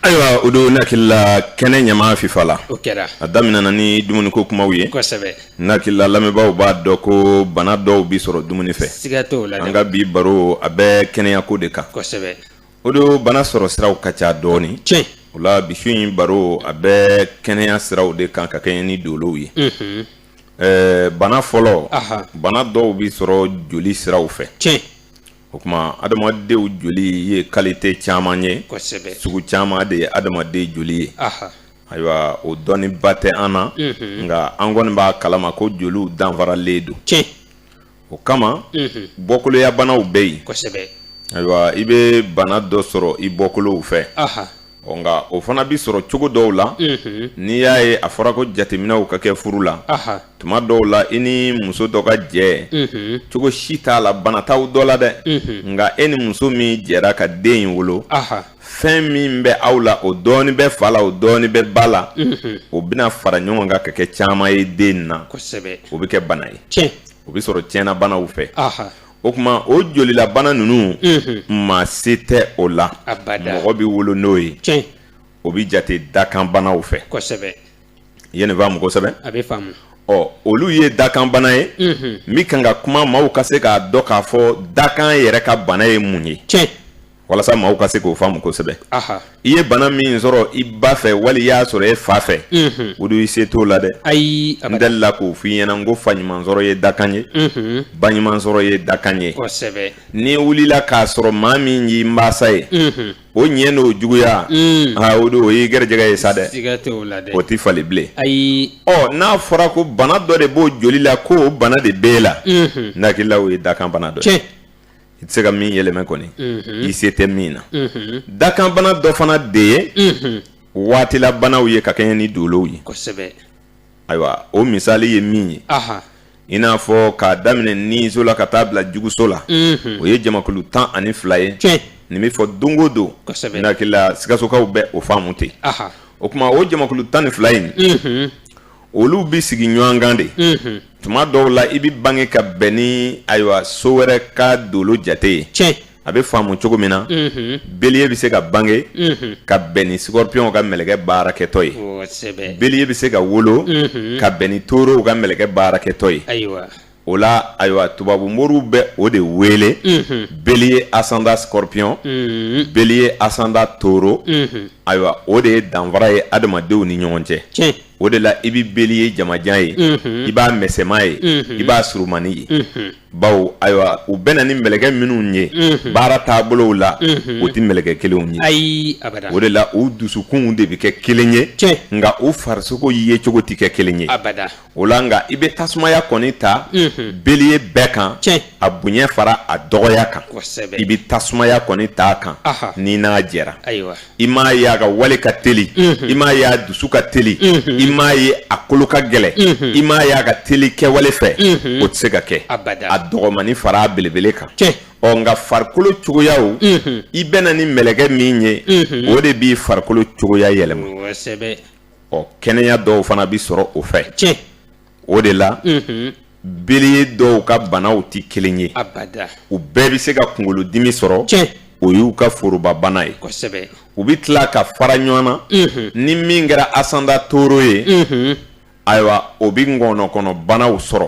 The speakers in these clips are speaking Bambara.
Ayiwa o don n hakili la kɛnɛ ɲama fifa la a daminɛna ni dumuniko kumaw ye n hakili la lamɛnbaaw b'a dɔn ko bana dɔw bɛ sɔrɔ dumuni fɛ an ka bi baro a bɛ kɛnɛyako de kan o don bana sɔrɔ siraw ka ca dɔɔnin tiɲɛ o la bi su in baro a bɛ kɛnɛya siraw de kan ka kɛɲɛ ni dolow ye ɛɛ bana fɔlɔ bana dɔw bɛ sɔrɔ joli siraw fɛ tiɲɛ o kuma adamadenw joli ye kalite caman ye sugu caman de ye adamaden joli ye ayiwa o dɔnniba tɛ an na nka an kɔni b'a kalama ko joliw danfaralen don tiɲɛ o kama bɔkoloya banaw bɛ yen ayiwa i bɛ bana dɔ sɔrɔ i bɔkolow fɛ nka o fana bɛ sɔrɔ cogo dɔw la n'i y'a ye a fɔra ko jateminɛw ka kɛ furu la tuma dɔw la i ni muso dɔ ka jɛ cogo si t'a la bana t'aw dɔ la dɛ nka e ni muso min jɛra ka den in wolo fɛn min bɛ aw la o dɔɔni bɛ fa la o dɔɔni bɛ ba la mhm. o bɛna fara ɲɔgɔn kan ka kɛ caman ye den na kosɛbɛ o bɛ kɛ bana ye tiɲɛ o bɛ sɔrɔ tiɲɛna banaw fɛ o kuma o jolilabana ninnu mhm. maa se tɛ o la mɔgɔ bɛ wolo n'o ye tiɲɛ o bɛ jate dakanbanaw fɛ kosɛbɛ ye nin faamu kosɛbɛ a bɛ faamu ɔ olu ye dakanbana ye mhm. min kan ka kuma maaw ka se k'a dɔn k'a fɔ dakan yɛrɛ ka bana ye mun ye tiɲɛ walasa maaw ka se k'o faamu kosɛbɛ i ye bana min sɔrɔ i ba fɛ wali i y'a sɔrɔ e fa fɛ mhm. o don i se t'o la dɛ ayi n delila k'o f'i ɲɛna n ko fa ɲuman sɔrɔ ye dakan ye mhm. ba ɲuman sɔrɔ ye dakan ye kosɛbɛ n'i wulila k'a sɔrɔ maa min y'i mansa ye mhm. o ɲɛ n'o juguya mm. aa o don o y'i gɛrɛjɛgɛ ye sa dɛ o tɛ falen bilen ayi ɔ n'a fɔra ko bana dɔ de b'o joli la ko o bana de b'e la n hakili la o ye dakan bana dɔ ye i tɛ se ka min yɛlɛmɛ kɔni i se tɛ min na dakanbana dɔ fana de ye waatilabanaw ye ka kɛɲɛ ni dolow ye ayiwa o misali ye min ye i n'a fɔ k'a daminɛ niso la ka taa bila juguso la o ye jamakulu tan ani fila ye nin bɛ fɔ don o don n hakili la sikasokaw bɛ o faamu ten o kuma o jamakulu tan ni fila in olu bɛ sigi ɲɔgɔn kan de tuma dɔw la i bɛ bange ka bɛn ni ayiwa so wɛrɛ ka dolo jate ye cɛ a bɛ faamu cogo min na bélier bɛ se ka bange ka bɛn ni scorpion ka mɛlɛkɛ baarakɛtɔ ye bélier bɛ se ka wolo ka bɛn ni taureau ka mɛlɛkɛ baarakɛtɔ ye o la ayiwa tubabu moriw bɛ o de wele beliye asanda skɔrɔpiyɔn beliye asanda toro ayiwa o de ye danfara ye adamadenw ni ɲɔgɔn cɛ o de la i bɛ beliye jamajan ye i b'a mɛsɛma ye i b'a surunmani ye bawo ayiwa u bɛnna ni mɛlɛkɛ minnu ye baara taabolow la o tɛ mɛlɛkɛ kelenw ye ayi o de la u dusukunw de bɛ kɛ kelen ye nka u farisogo ye cogo tɛ kɛ kelen ye o la nka i bɛ tasumaya kɔni ta beliye bɛɛ kan a bonya fara a dɔgɔya kan i bɛ tasumaya kɔni ta a kan n'i n'a jɛra i m'a ye a ka wale ka teli i m'a ye a dusu ka teli i m'a ye a kolo ka gɛlɛ i m'a ye a ka teli kɛwale fɛ o tɛ se ka kɛ a dɔgɔmani fara a belebele kan ɔ nka farikolo cogoyaw i bɛnna ni mɛlɛkɛ min ye o de b'i farikolo cogoya yɛlɛma ɔ kɛnɛya dɔw fana bɛ sɔrɔ o fɛ tiɲɛ o de la beliye dɔw ka banaw tɛ kelen ye u bɛɛ bɛ se ka kunkolodimi sɔrɔ tiɲɛ o y'u ka forobabana ye kosɛbɛ u bɛ tila ka fara ɲɔgɔn na ni min kɛra asanda toro ye ayiwa o bɛ ŋɔnɔkɔnɔbanaw sɔrɔ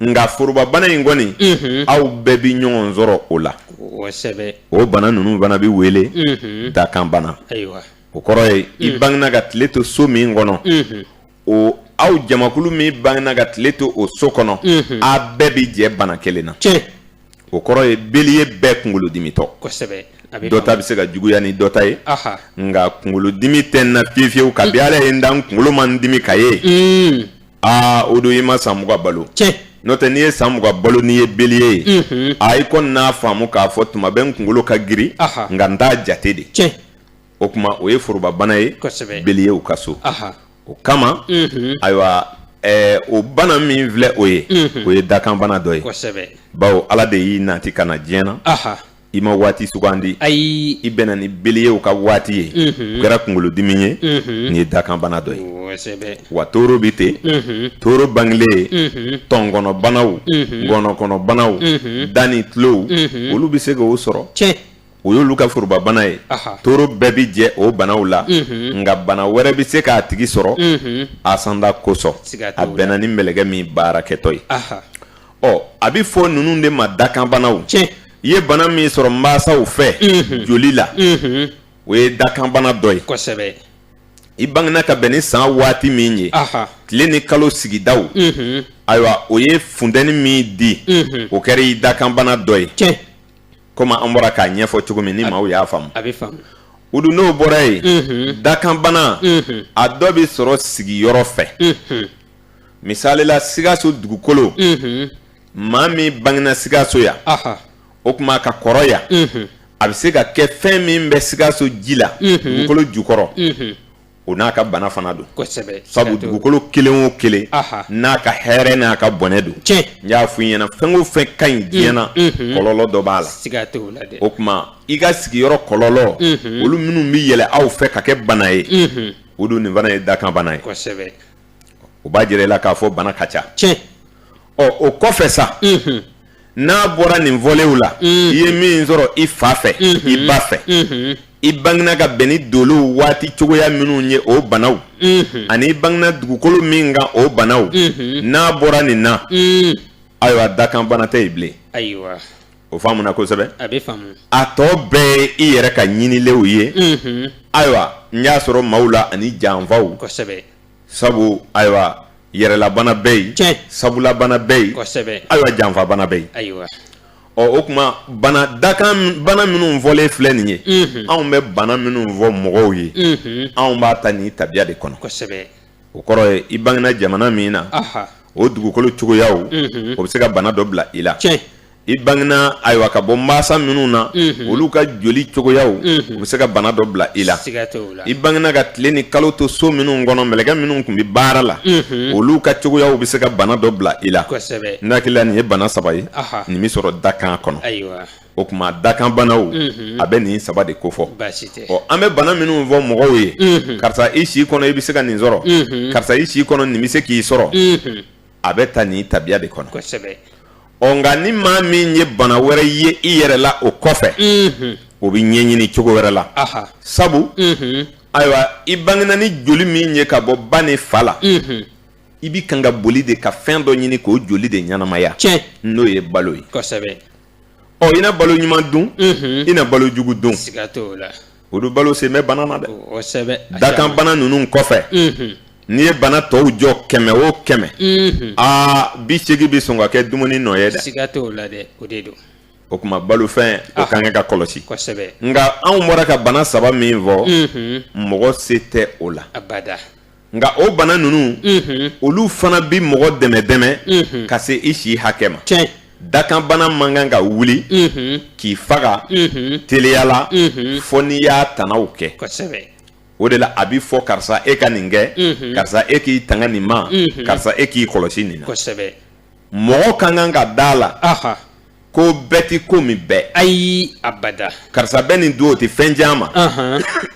nka forobabana in kɔni aw bɛɛ bɛ ɲɔgɔn sɔrɔ o la o bana ninnu fana bɛ wele dakanbana o kɔrɔ ye i mm. bangina ka tile to so min kɔnɔ o aw jamakulu min bangina ka tile to o so kɔnɔ a bɛɛ bɛ jɛ bana kelen na o kɔrɔ ye beliye bɛɛ kunkolodimitɔ dɔ ta bɛ se ka juguya ni dɔ ta ye nka kunkolodimi tɛ n na fiyewu fiyewu kabi mm. ala ye n dan kunkolo ma n dimi ka ye mm. aa o don i ma san mugan balo tiɲɛ n'o tɛ n'i ye san mugan balo n'i ye beliye ye a i kɔni n'a faamu k'a fɔ tuma bɛɛ n kunkolo ka girin Aha. nka n t'a jate de tiɲɛ o tuma o ye forobabana ye Kosɛbɛ. beliyew ka so aha o kama ayiwa ɛɛ o bana min filɛ o ye o ye dakanbana dɔ ye kosɛbɛ bawo ala de y'i nati ka na diɲɛ na aha i ma waati sugandi ayi i bɛnna ni beliyew ka waati ye o kɛra kunkolodimi ye nin ye dakanbana dɔ ye wa toro bɛ ten toro bangelen ye tɔnkɔnɔbanaw ŋɔnɔkɔnɔbanaw da ni tulow olu bɛ se k'o sɔrɔ tiɲɛ o y'olu ka forobabana ye toro bɛɛ bɛ jɛ o banaw la nka bana wɛrɛ bɛ se k'a tigi sɔrɔ asanda kosɔn a bɛnna ni mɛlɛkɛ min baarakɛtɔ ye ɔ a bɛ fɔ ninnu de ma dakanbanaw tiɲɛ i ye bana min sɔrɔ mansaw fɛ mhm. joli la mhm. o ye dakanbana dɔ ye kosɛbɛ i bangena ka bɛn ni san waati min ye tile ni kalo sigidaw mhm. ayiwa o ye funtɛni min di o kɛra i dakanbana dɔ ye tiɲɛ komi an bɔra k'a ɲɛfɔ cogo min ni maaw y'a faamu a bɛ faamu o dun n'o bɔra yen dakanbana a dɔ bɛ sɔrɔ sigiyɔrɔ fɛ misali la sikaso dugukolo maa min bangena sikaso yan o tuma ka kɔrɔ yan a bɛ se ka kɛ fɛn min bɛ sikaso ji la dugukolo jukɔrɔ o n'a ka bana fana don sabu dugukolo kelen o kelen n'a ka hɛrɛ n'a ka bɔnɛ don n y'a fɔ i ɲɛna fɛn o fɛn ka ɲi diɲɛ na kɔlɔlɔ dɔ b'a la o tuma i ka sigiyɔrɔ kɔlɔlɔ olu minnu bɛ yɛlɛ aw fɛ ka kɛ bana ye o don nin fana ye dakanbana ye o b'a jira i la k'a fɔ bana ka ca tiɲɛ ɔ o kɔfɛ sa n'a bɔra nin fɔlenw la i ye min sɔrɔ i fa fɛ i ba fɛ i bangena ka bɛn ni dolow waati cogoya minnu ye o banaw ani i bangena dugukolo min kan o banaw n'a bɔra nin na ayiwa dakanbana tɛ yen bilen ayiwa o faamuna kosɛbɛ a bɛ faamu a tɔ bɛɛ ye i yɛrɛ ka ɲinilenw ye unhun ayiwa n y'a sɔrɔ maaw la ani janfaw kosɛbɛ sabu ayiwa yɛrɛlabana bɛ yen tiɲɛ sabulabana bɛ yen kosɛbɛ ayiwa janfabana bɛ yen ayiwa ɔ o tuma bana dakanbana minnu fɔlen filɛ nin ye unhun anw bɛ bana minnu fɔ mɔgɔw ye unhun anw b'a ta ni tabiya de kɔnɔ kosɛbɛ o kɔrɔ ye i bangena jamana min na aha o dugukolo cogoyaw unhun o bɛ se ka bana dɔ bila i la tiɲɛ i bangena ayiwa ka bɔ masa minnu na mhm. olu ka joli cogoyaw mhm. u bɛ se ka bana dɔ bila i la i bangena ka tile ni kalo to so minnu kɔnɔ mɛlɛkɛ minnu tun bɛ baara la mhm. olu ka cogoyaw bɛ se ka bana dɔ bila i la n hakili la nin ye bana saba ye nin bɛ sɔrɔ dakan kɔnɔ o tuma dakanbanaw a bɛ nin saba de kofɔ ɔ an bɛ bana minnu fɔ mɔgɔw ye karisa i si kɔnɔ i bɛ se ka nin sɔrɔ karisa i si kɔnɔ nin bɛ se k'i sɔrɔ a bɛ ta nin tabiya de kɔnɔ nka ni maa min ye bana wɛrɛ ye i yɛrɛ la o kɔfɛ o bɛ ɲɛɲini cogo wɛrɛ la sabu ayiwa i bangena ni joli min ye ka bɔ ba ni fa la i bɛ kan ka boli de ka fɛn dɔ ɲini k'o joli de ɲɛnamaya n'o ye balo ye ɔ i na balo ɲuman dun i na balo jugu dun o don balo sen bɛ bana na dɛ kosɛbɛ a dakan caman. bana ninnu kɔfɛ Mhm. n'i ye bana tɔw jɔ kɛmɛ o kɛmɛ Mhm. aa bi seegin bɛ sɔn ka kɛ dumuni nɔ ye dɛ siga t'o la dɛ o de don o tuma balofɛn o Ah. ka kan ka kɔlɔsi kosɛbɛ nka anw bɔra ka bana saba min fɔ Mhm. mɔgɔ se tɛ o la abada nka o bana ninnu olu fana bɛ mɔgɔ dɛmɛ dɛmɛ ka se i si hakɛ ma dakanbana man kan ka wuli k'i faga teliya la fo n'i y'a tanaw kɛ o de la a bɛ fɔ karisa e ka nin kɛ karisa e k'i tanga nin ma karisa e k'i kɔlɔsi nin na mɔgɔ ka kan ka da a la ko bɛɛ tɛ ko min bɛɛ ayi abada karisa bɛ nin dun o tɛ fɛn tiɲɛ a ma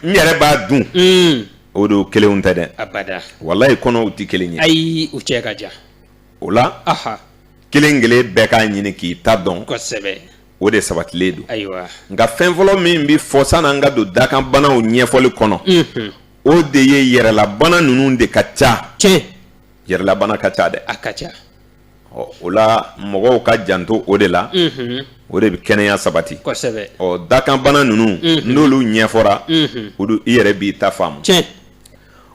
n yɛrɛ b'a dun mm. o de kelenw tɛ dɛ abada walayi kɔnɔw tɛ kelen ye ayi u cɛ ka jan o la kelen kelen bɛɛ k'a ɲini k'i ta dɔn kosɛbɛ o de sabatilen don ayiwa nka fɛn fɔlɔ min bɛ fɔ san'an ka don dakanbanaw ɲɛfɔli kɔnɔ mm-hmm. o de ye yɛrɛlabana ninnu de ka ca tiɲɛ yɛrɛlabana ka ca dɛ a ka ca ɔ o la mɔgɔw ka janto o de la o de bɛ kɛnɛya sabati ɔ dakanbana ninnu n'olu ɲɛfɔra o don i yɛrɛ b'i ta faamu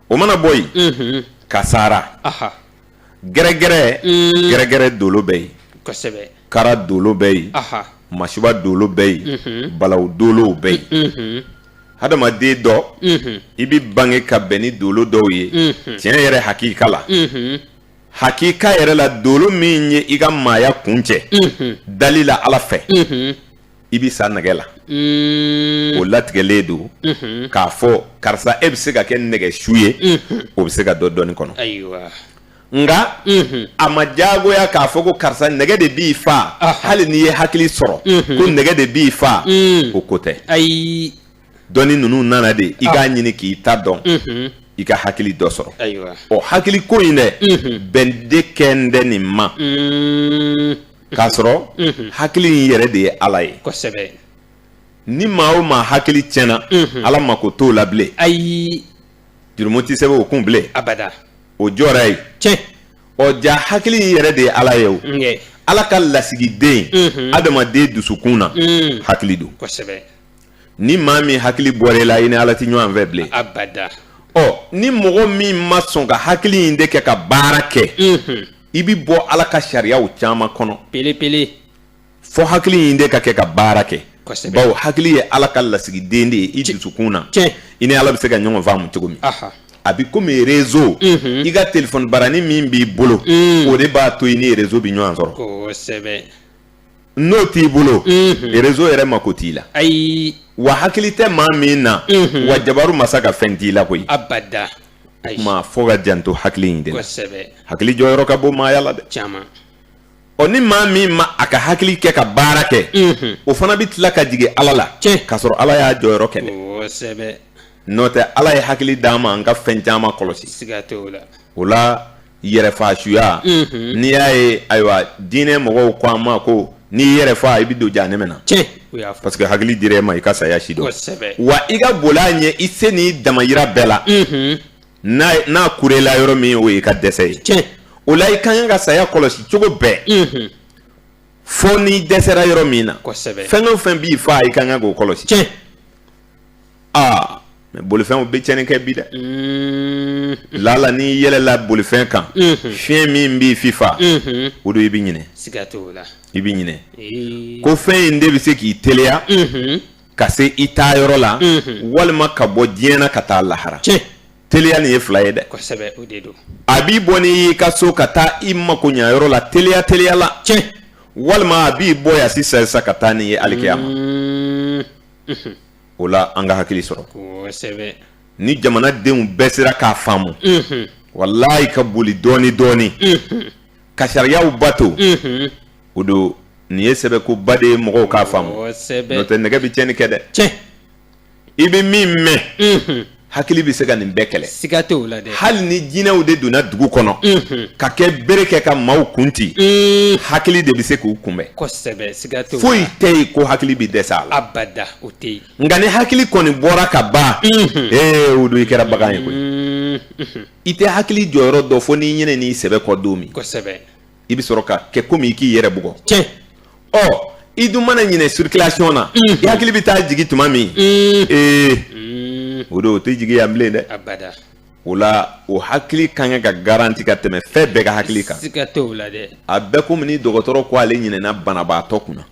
o mana bɔ yen kasara gɛrɛgɛrɛ gɛrɛgɛrɛ dolo bɛ yen kara dolo bɛ yen masiba dolo bɛ yen balawu dolow bɛ yen adamaden dɔ i bɛ bange ka bɛn ni dolo dɔw ye tiɲɛ yɛrɛ hakika la hakika yɛrɛ la dolo min ye i ka maaya kuncɛ dali la ala fɛ i bɛ sa nɛgɛ la mm. o latigɛlen don mm-hmm. k'a fɔ karisa e bɛ se ka kɛ nɛgɛ su ye mm-hmm. o bɛ se ka dɔn dɔnni kɔnɔ nka mm-hmm. a ma diyagoya k'a fɔ ko karisa nɛgɛ de b'i fa hali n'i ye hakili sɔrɔ ko nɛgɛ de b'i fa mm. o ko tɛ dɔnni ninnu nana de i k'a ɲini k'i ta dɔn i ka hakili dɔ sɔrɔ ɔ hakili ko in dɛ bɛn de kɛ n dɛ nin ma k'a sɔrɔ hakili in yɛrɛ de ye ala ye kosɛbɛ ni maa o maa hakili tiɲɛna ala mako t'o la bilen ayi jurumu tɛ sɛbɛn o kun bilen abada o jɔra yen tiɲɛ ɔ jaa hakili in yɛrɛ de ye ala ye o ala ka lasigiden adamaden dusukun na hakili don kosɛbɛ ni maa min hakili bɔra i la i ni ala tɛ ɲɔgɔn fɛ bilen abada ɔ ni mɔgɔ min ma sɔn ka hakili in de kɛ ka baara kɛ mhm. i bi bɔ ala ka sariyaw caman kɔnɔ pelepele fɔ hakili in de ka kɛ ka baara kɛ bawo hakili ye ala ka lasigiden de ye i dusukun na i ni ala bɛ se ka ɲɔgɔn faamu cogo min a bi komi rezo mhm. i ka telefɔni barani min b'i bolo mm. o de b'a to i ni rezo bi ɲɔgɔn sɔrɔ n'o t'i bolo rezo yɛrɛ mako t'i la ayi wa hakili tɛ maa min na wa jabaru masa ka fɛn t'i la koyi abada maa fo ka janto hakili in de la hakili jɔyɔrɔ ka bon maaya la dɛ caman ɔ ni maa min ma a ka hakili kɛ ka baara kɛ o fana bɛ tila ka jigin ala la k'a sɔrɔ ala y'a jɔyɔrɔ kɛ dɛ n'o tɛ ala ye hakili d'an ma an ka fɛn caman kɔlɔsi siga t'o la yɛrɛfaasuya n'i y'a ye ayiwa diinɛ mɔgɔw ko an ma ko n'i yɛrɛ faa i bɛ don jahanɛmɛ na parce que hakili dira e ma i ka saya si dɔn wa i ka boli a ɲɛ i se n'i damayira bɛɛ la n'a kurela yɔrɔ min o y'i ka dɛsɛ ye o la i ka kan ka saya kɔlɔsi cogo bɛɛ fo n'i dɛsɛra yɔrɔ min na fɛn o fɛn b'i faa i ka kan k'o kɔlɔsi aa mais bolifɛnw bɛ cɛnni kɛ bi dɛ mm. lala n'i yɛlɛla bolifɛn kan mm-hmm. fiɲɛ min b'i fifa mm-hmm. o don i bɛ ɲinɛ i bɛ ɲinɛ ko fɛn in de bɛ se k'i teliya mm-hmm. ka se i taa yɔrɔ la walima ka bɔ diɲɛ na ka taa lahara teliya nin ye fila ye dɛ a bɛ bɔ n'i y'i ka so ka taa i mako ɲa yɔrɔ la teliya teliya la walima a b'i bɔ yan sisan sisan ka taa n'i ye alikiyama mm. o la an ka hakili sɔrɔ ni jamanadenw bɛɛ sera k'a faamu walayi ka boli dɔɔni dɔɔni ka sariyaw bato o don nin ye sɛbɛkoba de ye mɔgɔw k'a faamu n'o tɛ nɛgɛ bɛ tiɲɛni kɛ dɛ i bɛ min mɛn hakili bɛ se ka nin bɛɛ kɛlɛ siga tɛ o la dɛ hali ni jinɛw de donna dugu kɔnɔ mhm. ka kɛ bere kɛ ka maaw kunti mm. hakili de bɛ se k'u kunbɛn kosɛbɛ siga tɛ foyi tɛ yen ko hakili bɛ dɛsɛ a la abada o tɛ yen nka ni hakili kɔni bɔra ka ban mhm. ee o don i kɛra bagan ye koyi mhm. i tɛ hakili jɔyɔrɔ dɔn fo n'i ɲinɛn'i sɛbɛ kɔ don min kosɛbɛ i bɛ sɔrɔ ka kɛ komi i k'i yɛrɛ bugɔ tiɲɛ ɔ i dun mana ɲinɛ circulation na i mm. hakili bɛ taa jigin tuma min mm. ee mm. o don o tɛ jigin yan bilen dɛ abada o la o hakili ka kan ka garanti ka tɛmɛ fɛn bɛɛ ka hakili kan siga t'o la dɛ a bɛ komi ni dɔgɔtɔrɔ ko ale ɲinɛna banabaatɔ kunna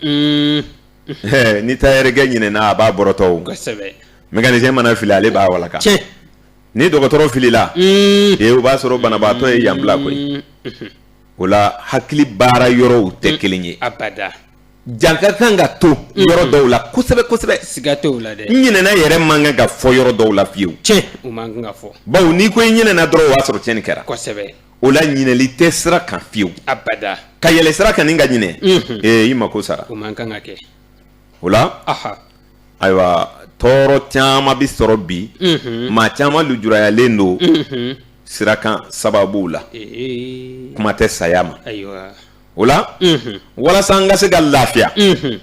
ni tayɛrɛkɛ ɲinɛna a b'a bɔrɔtɔ o kosɛbɛ mécanicien mana fili ale b'a walaka tiɲɛ ni dɔgɔtɔrɔ filila ee o b'a sɔrɔ banabaatɔ ye yan bila koyi o la hakili baara yɔrɔw tɛ kelen ye jan ka kan ka to yɔrɔ dɔw la kosɛbɛ kosɛbɛ siga t'o la dɛ n ɲinɛna yɛrɛ man kan ka fɔ yɔrɔ dɔw la fiyewu cɛ fɔ bawo n'i ko i ɲinɛna dɔrɔn o y'a sɔrɔ tiɲɛni kɛra kosɛbɛ o la ɲinɛli tɛ sira kan fiyewu ka yɛlɛ sira kan nin ka ɲinɛ ee i mako sara kɛ o la ayiwa tɔɔrɔ caman bɛ sɔrɔ bi maa caman lujurayalen don sira kan sababuw la kuma tɛ saya ma o la walasa an ka se ka lafiya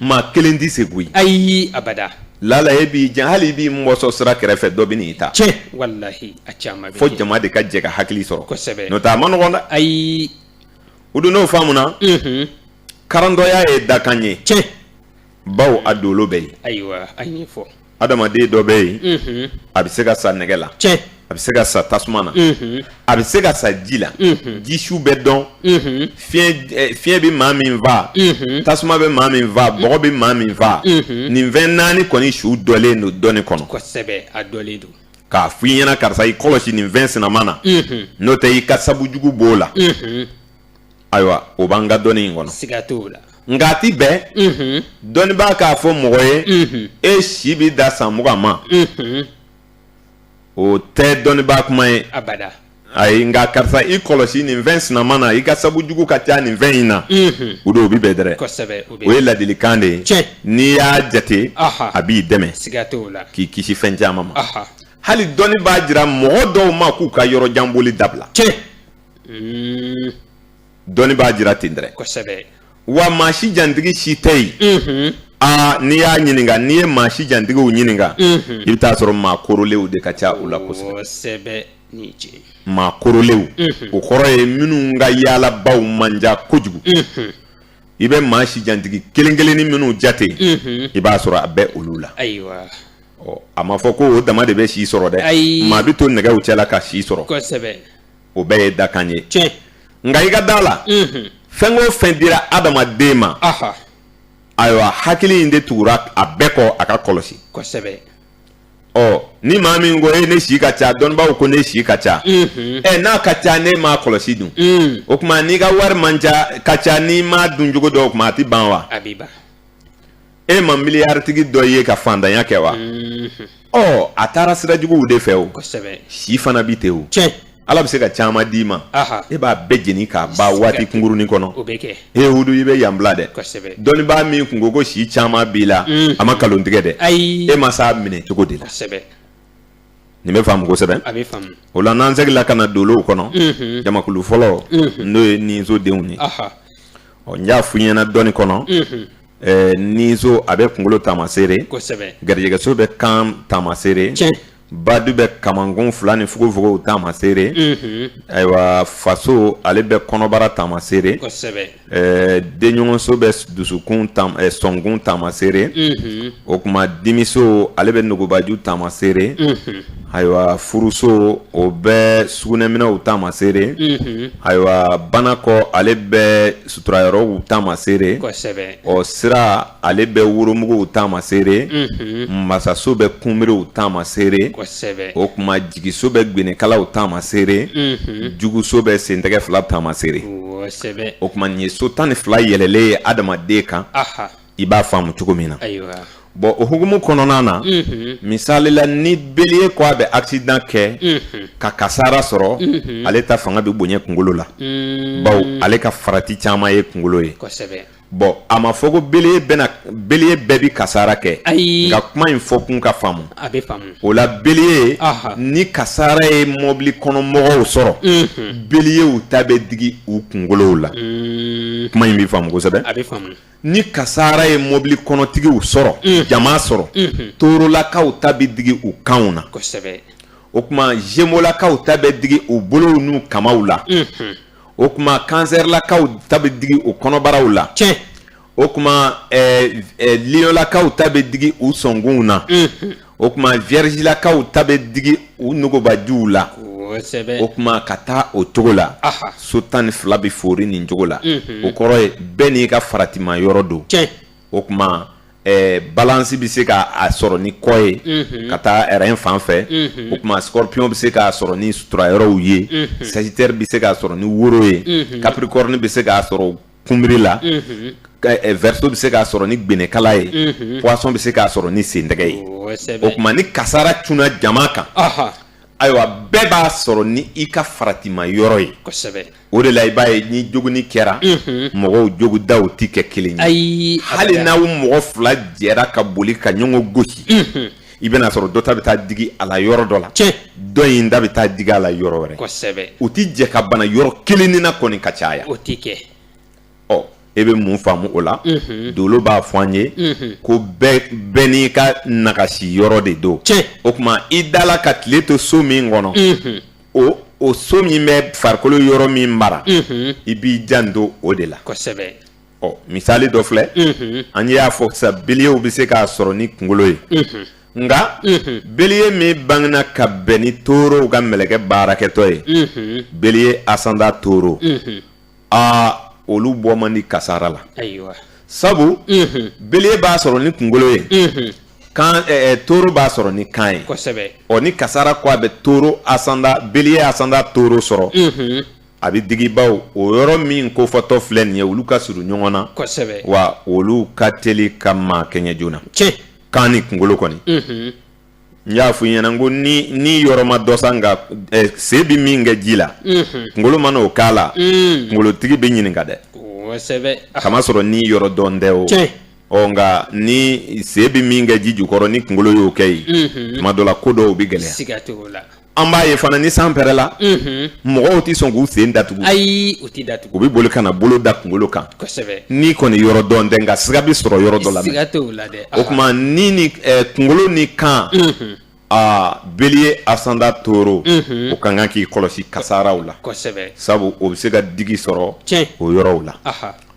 maa kelen tɛ se koyi ayi abada lala e b'i jan hali i b'i mɔsɔn sira kɛrɛfɛ dɔ bɛ n'i ta cɛ fo jama de ka jɛ ka hakili sɔrɔ n'o tɛ a man nɔgɔ dɛ ayi o don n'o faamuna karandɔya ye dakan ye cɛ bawo a dolo bɛ yen ayiwa a ye fɔ adamaden dɔ bɛ yen a bɛ se ka sa nɛgɛ la tiɲɛ a bɛ se ka sa tasuma na a bɛ se ka sa ji la jisuw bɛ dɔn fiɲɛ bɛ maa min faa tasuma bɛ maa min faa bɔgɔ bɛ maa min faa nin fɛn naani kɔni su dɔlen don dɔnni kɔnɔ kosɛbɛ a dɔlen don k'a fɔ i ɲɛna karisa i kɔlɔsi nin fɛn sinama na n'o tɛ i ka sabu jugu b'o la ayiwa o b'an ka dɔnni in kɔnɔ siga t'o la nka a ti bɛn dɔnnibaa k'a fɔ mɔgɔ ye e si bi da san mugan ma o tɛ dɔnnibaa kuma ye abada ayi nka karisa i kɔlɔsi nin fɛn sinama na i ka sabu jugu ka ca nin fɛn in na o don o bi bɛn dɛrɛ o ye ladilikan de ye n'i y'a jate a b'i dɛmɛ siga t'o la k'i kisi fɛn caman ma hali dɔnni b'a jira mɔgɔ dɔw ma k'u ka yɔrɔ jan boli dabila dɔnni b'a jira ten dɛrɛ kosɛbɛ wa maa si jantigi si tɛ yen aa n'i y'a ɲininka n'i ye maa si jantigiw ɲininka i bɛ taa sɔrɔ maa korolenw de ka ca u la kosɛbɛ maa korolenw o kɔrɔ ye minnu ka yaalabaw man ca kojugu i bɛ maa si jantigi kelen kelennin minnu jate i b'a sɔrɔ a bɛ olu la a ma fɔ ko o dama de bɛ si sɔrɔ dɛ maa bɛ to nɛgɛw cɛla ka si sɔrɔ o bɛɛ ye dakan ye tiɲɛ nka i ka da la fɛn o fɛn dira adamaden ma ayiwa hakili in de tugura a bɛɛ kɔ a k'a kɔlɔsi kosɛbɛ ɔ ni maa min ko e ne si ka ca dɔnnibaaw ko ne si ka ca ɛ n'a ka ca n'e m'a kɔlɔsi dun o tuma n'i ka wari man ca ka ca n'i m'a dun cogo dɔn o tuma a tɛ ban wa e ma miliyaritigi dɔ ye ka fantanya kɛ wa ɔ a taara sira juguw de fɛ o si fana bi ten o ala bɛ se ka caman d'i ma e b'a bɛɛ jeni k'a ban waati kunkurunin kɔnɔ e wudu i bɛ yan bila dɛ dɔnnibaa min kun ko ko si caman b'i la a ma nkalon tigɛ dɛ e ma s'a minɛ cogo de la nin bɛ faamu kosɛbɛ a bɛ faamu o la n'an seginla ka na dolow kɔnɔ unhun, jamakulu fɔlɔ Unhun. n'o ye ninso denw ye aha ɔ n y'a f'i ɲɛna dɔnni kɔnɔ unhun, ɛɛ ninso a bɛ kunkolo taamaseere kosɛbɛ garijɛgɛso bɛ kan taamaseere tiɲɛ badu bɛ kamankun fila ni fugofugow taamaseere unhun, ayiwa faso ale bɛ kɔnɔbara taamaseere kosɛbɛ Ɛɛ denɲɔgɔnso bɛ dusukun sɔnkun taamaseere o tuma dimiso ale bɛ nugubaju taamaseere ayiwa furuso o bɛ sugunɛminɛnw taamaseere ayiwa banakɔ ale bɛ suturayɔrɔw taamaseere ɔ sira ale bɛ woromuguw taamaseere masaso bɛ kunbiriw taamaseere o tuma jigiso bɛ gbenekalaw taamaseere juguso bɛ sentɛgɛ fila taamaseere o tuma nin ye so tan ni fila yɛlɛlen ye adamaden kan i b'a faamu cogo min na bɔn o hukumu kɔnɔna na misali la ni beliye ko a bɛ aksidan kɛ ka kasaara sɔrɔ ale ta fanga bɛ bonya kunkolo la bawo ale ka farati caman ye kunkolo ye bɔn a ma fɔ ko beliye bɛna beliye bɛɛ bi kasara kɛ ayi nka kuma in fɔ kun ka faamu a bɛ faamu o la beliye ni kasara ye mɔbili kɔnɔ mɔgɔw sɔrɔ beliyew ta bɛ digi u kunkolow la kuma in bɛ faamu kosɛbɛ a bɛ faamu ni kasara ye mɔbili kɔnɔtigiw sɔrɔ jama sɔrɔ torolakaw ta bɛ digi u kanw na kosɛbɛ o tuma zemolakaw ta bɛ digi u bolow n'u kamaw la o tuma kansɛrilakaw ta bɛ digi u kɔnɔbaraw la tiɲɛ o tuma ɛɛ ɛɛ liyɔnlakaw ta bɛ digi u sɔnkunw na o tuma viyɛrizilakaw ta bɛ digi u nogobajuw la kosɛbɛ o tuma ka taa o cogo la Aha. so tan ni fila bɛ foori nin cogo la o kɔrɔ ye bɛɛ n'i ka faratima yɔrɔ don tiɲɛ o tuma ɛɛ balance bɛ se ka a sɔrɔ ni kɔ ye. Unhun. Ka taa rein fan fɛ. Unhun. O tuma scorpion bɛ se k'a sɔrɔ ni sutura yɔrɔw ye. Unhun. Sagittaire bɛ se k'a sɔrɔ ni woro ye. Unhun. Capricorne bɛ se k'a sɔrɔ kunbiri la. Unhun. Ka ɛ verseau bɛ se k'a sɔrɔ ni gbenekala ye. Unhun. Poisson bɛ se k'a sɔrɔ ni sentɛgɛ ye. Kosɛbɛ. O tuma ni kasara cunna jama kan. Ɔhɔ. ayiwa bɛɛ b'a sɔrɔ ni i ka faratima yɔrɔ ye o de la i b'a ye ni joginni kɛra mɔgɔw jogindaw tɛ kɛ kelen ye ayi hali n'aw mɔgɔ fila jɛra ka boli ka ɲɔgɔn gosi i bɛn'a sɔrɔ dɔ ta bɛ taa digi a la yɔrɔ dɔ la dɔ in ta bɛ taa digi a la yɔrɔ wɛrɛ u tɛ jɛ ka bana yɔrɔ kelennin na kɔni ka caya o tɛ kɛ ɔ e bɛ mun faamu o la dolo b'a fɔ an ye ko bɛɛ n'i ka nagasi yɔrɔ de don o tuma i dala ka tile to so min kɔnɔ o o so min bɛ farikolo yɔrɔ min mara i b'i janto o de la ɔ misali dɔ filɛ an y'a fɔ sisan beliyew bɛ se k'a sɔrɔ ni kunkolo ye nka beliye min bangena ka bɛn ni torow ka mɛlɛkɛ baarakɛtɔ ye beliye asanda toro aa olu bɔ man di kasara la sabu beliye b'a sɔrɔ ni kunkolo ye kan toro b'a sɔrɔ ni kan ye ɔ ni kasara ko a bɛ toro asanda beliye asanda toro sɔrɔ a bɛ digi bawo o yɔrɔ min ko fɔtɔ filɛ nin ye olu ka surun ɲɔgɔn na wa olu ka teli ka maa kɛɲɛ joona kan ni kunkolo kɔni n y'a fɔ i ɲɛna ko ni ni yɔrɔ ma dɔn sa nka eh, sen bɛ min kɛ ji la mhm. kunkolo mana o k'a la mm. kunkolotigi bɛ ɲininka dɛ k'a masɔrɔ ni yɔrɔ dɔn tɛ o ɔ nka ni sen bɛ min kɛ ji jukɔrɔ ni kunkolo y'o kɛ yen mhm. tuma dɔ la ko dɔw bɛ gɛlɛya An b'a ye fana ni san pɛrɛnna, unhun, mɔgɔw tɛ sɔn k'u sen datugu, ayi u tɛ datugu, u bɛ boli ka na bolo da kunkolo kan, kosɛbɛ, ni kɔni yɔrɔ dɔn tɛ nka siga bɛ sɔrɔ yɔrɔ dɔ la, siga t'o la dɛ, o tuma ni ni kunkolo ni kan, unhun, aa Bélier ascendant Taureau, unhun, o ka kan k'i kɔlɔsi kasaaraw la, kosɛbɛ, sabu o bɛ se ka digi sɔrɔ, tiɲɛ, o yɔrɔw la, anhan.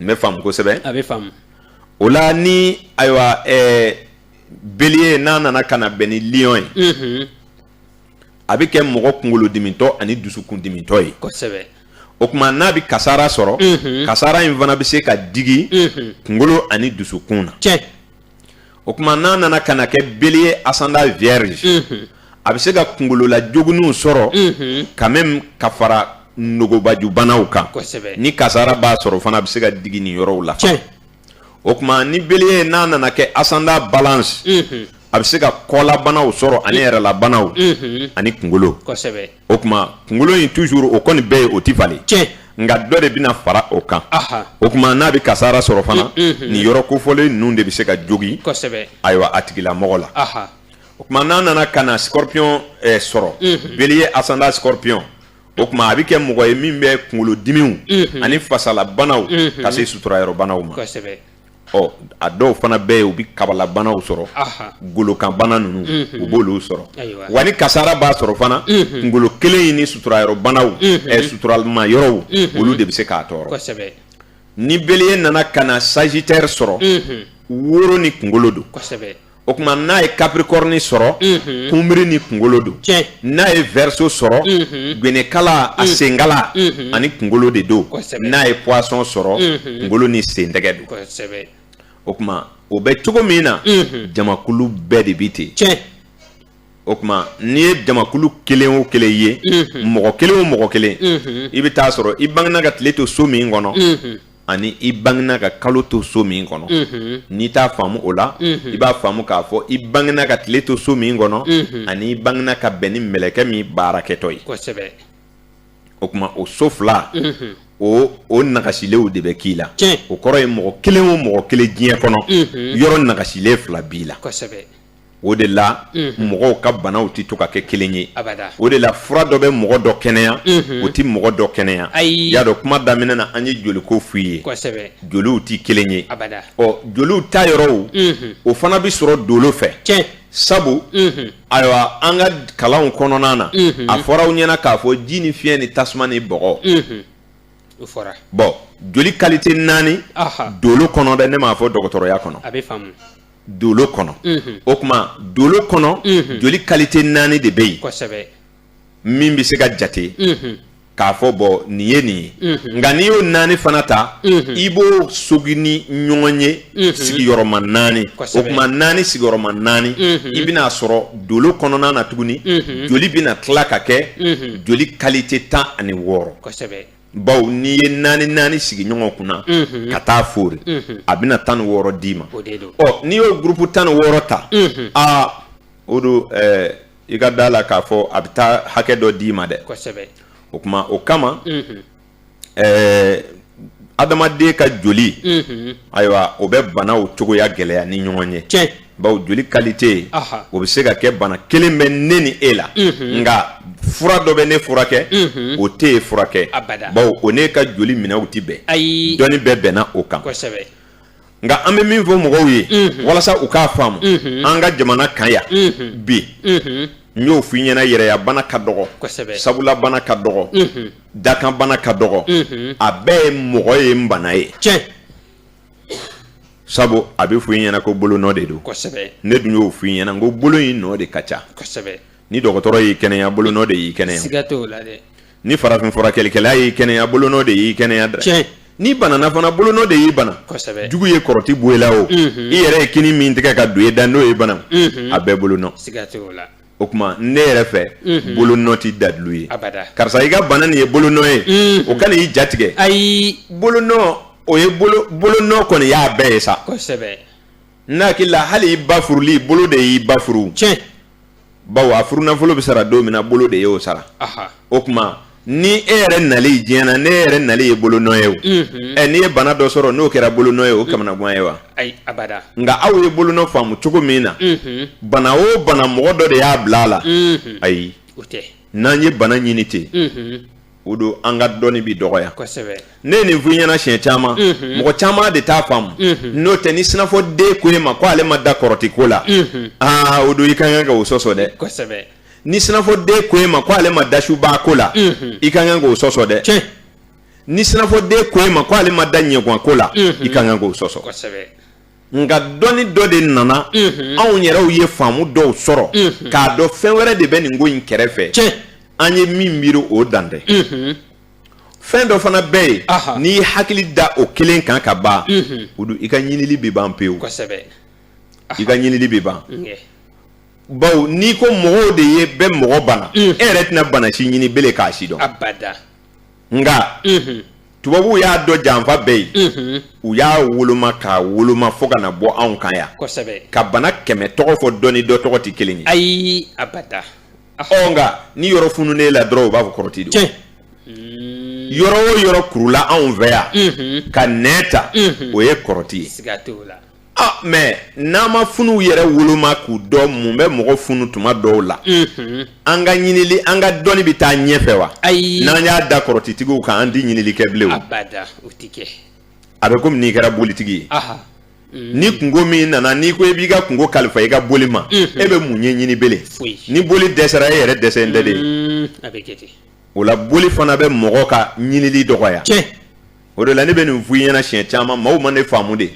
n bɛ faamu kosɛbɛ a bɛ faamu o la ni ayiwa ɛɛ bélier n'a nana ka na bɛn ni lion ye mhm. a bɛ kɛ mɔgɔ kunkolodimitɔ ani dusukundimitɔ ye kosɛbɛ o tuma n'a bɛ kasara sɔrɔ mhm. kasara in fana bɛ se ka digi mhm. kunkolo ani dusukun na tiɲɛ o tuma n'a nana ka na kɛ bélier ascendant vierge mhm. a bɛ se ka kungolola joginniw sɔrɔ mhm. quand même ka fara nogobajubanaw kan ni kasara b'a sɔrɔ fana a bɛ se ka digi nin yɔrɔw la o tuma ni bélier n'a nana kɛ ascendant balance mhm. a bɛ se ka kɔlabanaw sɔrɔ ani yɛrɛlabanaw ani kungolo o tuma kunkolo in toujours o kɔni bɛ yen o tɛ falen nka dɔ de bɛna fara o kan o tuma n'a bɛ kasara sɔrɔ fana mm, mm, mm. nin yɔrɔ kofɔlen ninnu de bɛ se ka jogin ayiwa a tigilamɔgɔ la o tuma n'a nana ka na scorpion eh, sɔrɔ mm-hmm. bélier ascendant scorpion o tuma a bɛ kɛ mɔgɔ ye min bɛ kunkolodimiw mm-hmm. ani fasalabanaw mm-hmm. ka se suturayɔrɔbanaw ma ɔ a dɔw fana bɛ yen u bɛ kabalabanaw sɔrɔ golokanbana ninnu u b'olu sɔrɔ wa ni kasara b'a sɔrɔ fana kunkolo kelen in ni suturayɔrɔbanaw suturalima yɔrɔw olu de bɛ se k'a tɔɔrɔ ni bélier nana ka na sagittaire sɔrɔ woro ni kunkolo don o tuma n'a ye capricorne sɔrɔ kunbiri ni kunkolo don n'a ye verseau sɔrɔ gwenekala a senkala ani kunkolo de don n'a ye poisson sɔrɔ kunkolo ni sentɛgɛ don o tuma o bɛ cogo min na jamakulu bɛɛ de bɛ ten o tuma n'i ye jamakulu kelen o kelen ye mɔgɔ kelen o mɔgɔ kelen i bɛ t'a sɔrɔ i bangena ka tile to so min kɔnɔ ani i bangena ka kalo to so min kɔnɔ mhm. n'i t'a faamu o la mhm. i b'a faamu k'a fɔ i bangena ka tile to so min kɔnɔ mhm. ani i bangena ka bɛn ni mɛlɛkɛ min baarakɛtɔ ye o tuma o so fila o o nagasilenw de bɛ k'i la o kɔrɔ ye mɔgɔ kelen o mɔgɔ kelen diɲɛ kɔnɔ yɔrɔ nagasilen fila b'i la o de la mɔgɔw ka banaw tɛ to ka kɛ kelen ye o de la fura dɔ bɛ mɔgɔ dɔ kɛnɛya o tɛ mɔgɔ dɔ kɛnɛya y'a dɔn kuma daminɛ na an ye joliko f'i ye joliw tɛ kelen ye ɔ joliw ta yɔrɔw o fana bɛ sɔrɔ dolo fɛ sabu ayiwa an ka kalanw kɔnɔna na a fɔra aw ɲɛna k'a fɔ ji ni fiɲɛ ni tasuma ni bɔgɔ bɔn joli kalite naani dolo kɔnɔ dɛ ne m'a fɔ dɔgɔtɔrɔya kɔnɔ dolo kɔnɔ o tuma dolo kɔnɔ joli kalite naani de bɛ yen min bɛ se ka jate k'a fɔ bɔn nin ye nin ye nka n'i y'o naani fana ta i b'o sogi ni ɲɔgɔn ye sigiyɔrɔma naani o tuma naani sigiyɔrɔma naani i bɛna a sɔrɔ dolo kɔnɔna na tuguni joli bɛna tila ka kɛ joli kalite tan ani wɔɔrɔ bawo n'i ye naani naani sigi ɲɔgɔn kunna ka taa fori a bɛna tan ni wɔɔrɔ d'i ma n'i y'o gurupu tan ni wɔɔrɔ ta aa o don i ka da la k'a fɔ a bɛ taa hakɛ dɔ d'i ma dɛ o tuma o kama adamaden ka joli ayiwa o bɛ banaw cogoya gɛlɛya ni ɲɔgɔn ye bawo joli kalite o bɛ se ka kɛ bana kelen bɛ ne ni e la nka fura dɔ bɛ ne furakɛ o tɛ e furakɛ bawo o ne ka joli minɛw tɛ bɛn ayi dɔnni bɛɛ bɛnna o kan nka an bɛ min fɔ mɔgɔw ye walasa u k'a faamu an ka jamana kan yan bi n y'o f'i ɲɛna yɛrɛyabana ka dɔgɔ sabulabana ka dɔgɔ dakanbana ka dɔgɔ a bɛɛ ye mɔgɔ ye n bana ye sabu a bɛ fɔ i ɲɛna ko bolo nɔ de don ne dun y'o fɔ i ɲɛna ko bolo in nɔ de ka ca ni dɔgɔtɔrɔ y'i kɛnɛya bolo nɔ de y'i kɛnɛya ni farafin furakɛlikɛla y'i kɛnɛya bolo nɔ de y'i kɛnɛya dɛ n'i banana fana bolo nɔ de y'i bana jugu ye kɔrɔti bɔ i la o i yɛrɛ ye kini min tigɛ ka don i da n'o ye bana a bɛɛ bolo nɔ o tuma ne yɛrɛ fɛ mhm. bolo nɔ tɛ dalilu ye karisa i ka bana nin ye bolo nɔ ye mhm. o kana i jatigɛ ayi bolo nɔ o ye bolo nɔ kɔni y'a bɛɛ ye sa kosɛbɛ ne hakili la hali i ba furuli bolo de y'i ba furu tiɲɛ bawo a furunafolo bɛ sara don min na bolo de y'o sara o tuma ni e yɛrɛ nali diɲɛ na ne yɛrɛ nali ye bolo nɔ ye o ɛ n'i ye bana dɔ sɔrɔ n'o kɛra bolo nɔ ye o kamanagan ye wa nka aw ye bolo nɔ faamu cogo min na bana o bana mɔgɔ dɔ de y'a bila a la ayi n'an ye bana ɲini ten o don an ka dɔnni bɛ dɔgɔya ne ye nin f'i ɲɛna siɲɛ caman mɔgɔ caman de t'a faamu n'o tɛ ni sinafɔ den ko e ma ko ale ma da kɔrɔti ko la aa o don i ka kan ka o sɔsɔ dɛ ni sinafɔden ko e ma ko ale ma da suba ko la i ka kan k'o sɔsɔ dɛ ni sinafɔden ko e ma ko ale ma da ɲɛguwan ko la i ka kan k'o sɔsɔ nka dɔnni dɔ de nana anw yɛrɛw ye faamu dɔw sɔrɔ k'a dɔn fɛn wɛrɛ de bɛ nin ko in kɛrɛfɛ an ye min miiri o dan tɛ fɛn dɔ fana bɛ yen n'i ye hakili da o kelen kan ka ban o don i ka ɲinili bɛ ban pewu i ka ɲinili bɛ ban bawo n'i ko mɔgɔw de ye bɛ mɔgɔ bana e yɛrɛ tɛna bana si ɲini bele k'a si dɔn nka tubabuw y'a dɔn janfa bɛɛ ye u y'a woloma k'a woloma fo ka na bɔ anw kan yan ka bana kɛmɛ tɔgɔ fɔ dɔ ni dɔ tɔgɔ tɛ kelen ye ayi nka ni yɔrɔ fununen i la dɔrɔn u b'a fɔ kɔrɔti don yɔrɔ o yɔrɔ kurula anw fɛ yan ka nɛn ta o ye kɔrɔti ye Ah, mɛ n'an ma funuw yɛrɛ woloma k'u dɔn mun bɛ mɔgɔ funu tuma dɔw la an ka ɲinili an ka dɔnni bɛ taa ɲɛfɛ wa ayi n'an y'a da kɔrɔtitigiw kan an tɛ ɲinili kɛ bilen a bɛ komi n'i kɛra bolitigi ye ni kunko min nana n'i ko e b'i ka kunko kalifa i ka boli ma e bɛ mun ɲɛɲini bele ni boli dɛsɛra e yɛrɛ dɛsɛlen de ye o la boli fana bɛ mɔgɔ ka ɲinili dɔgɔya o de la ne bɛ nin fɔ i ɲɛna siɲɛ caman maaw ma ne faamu de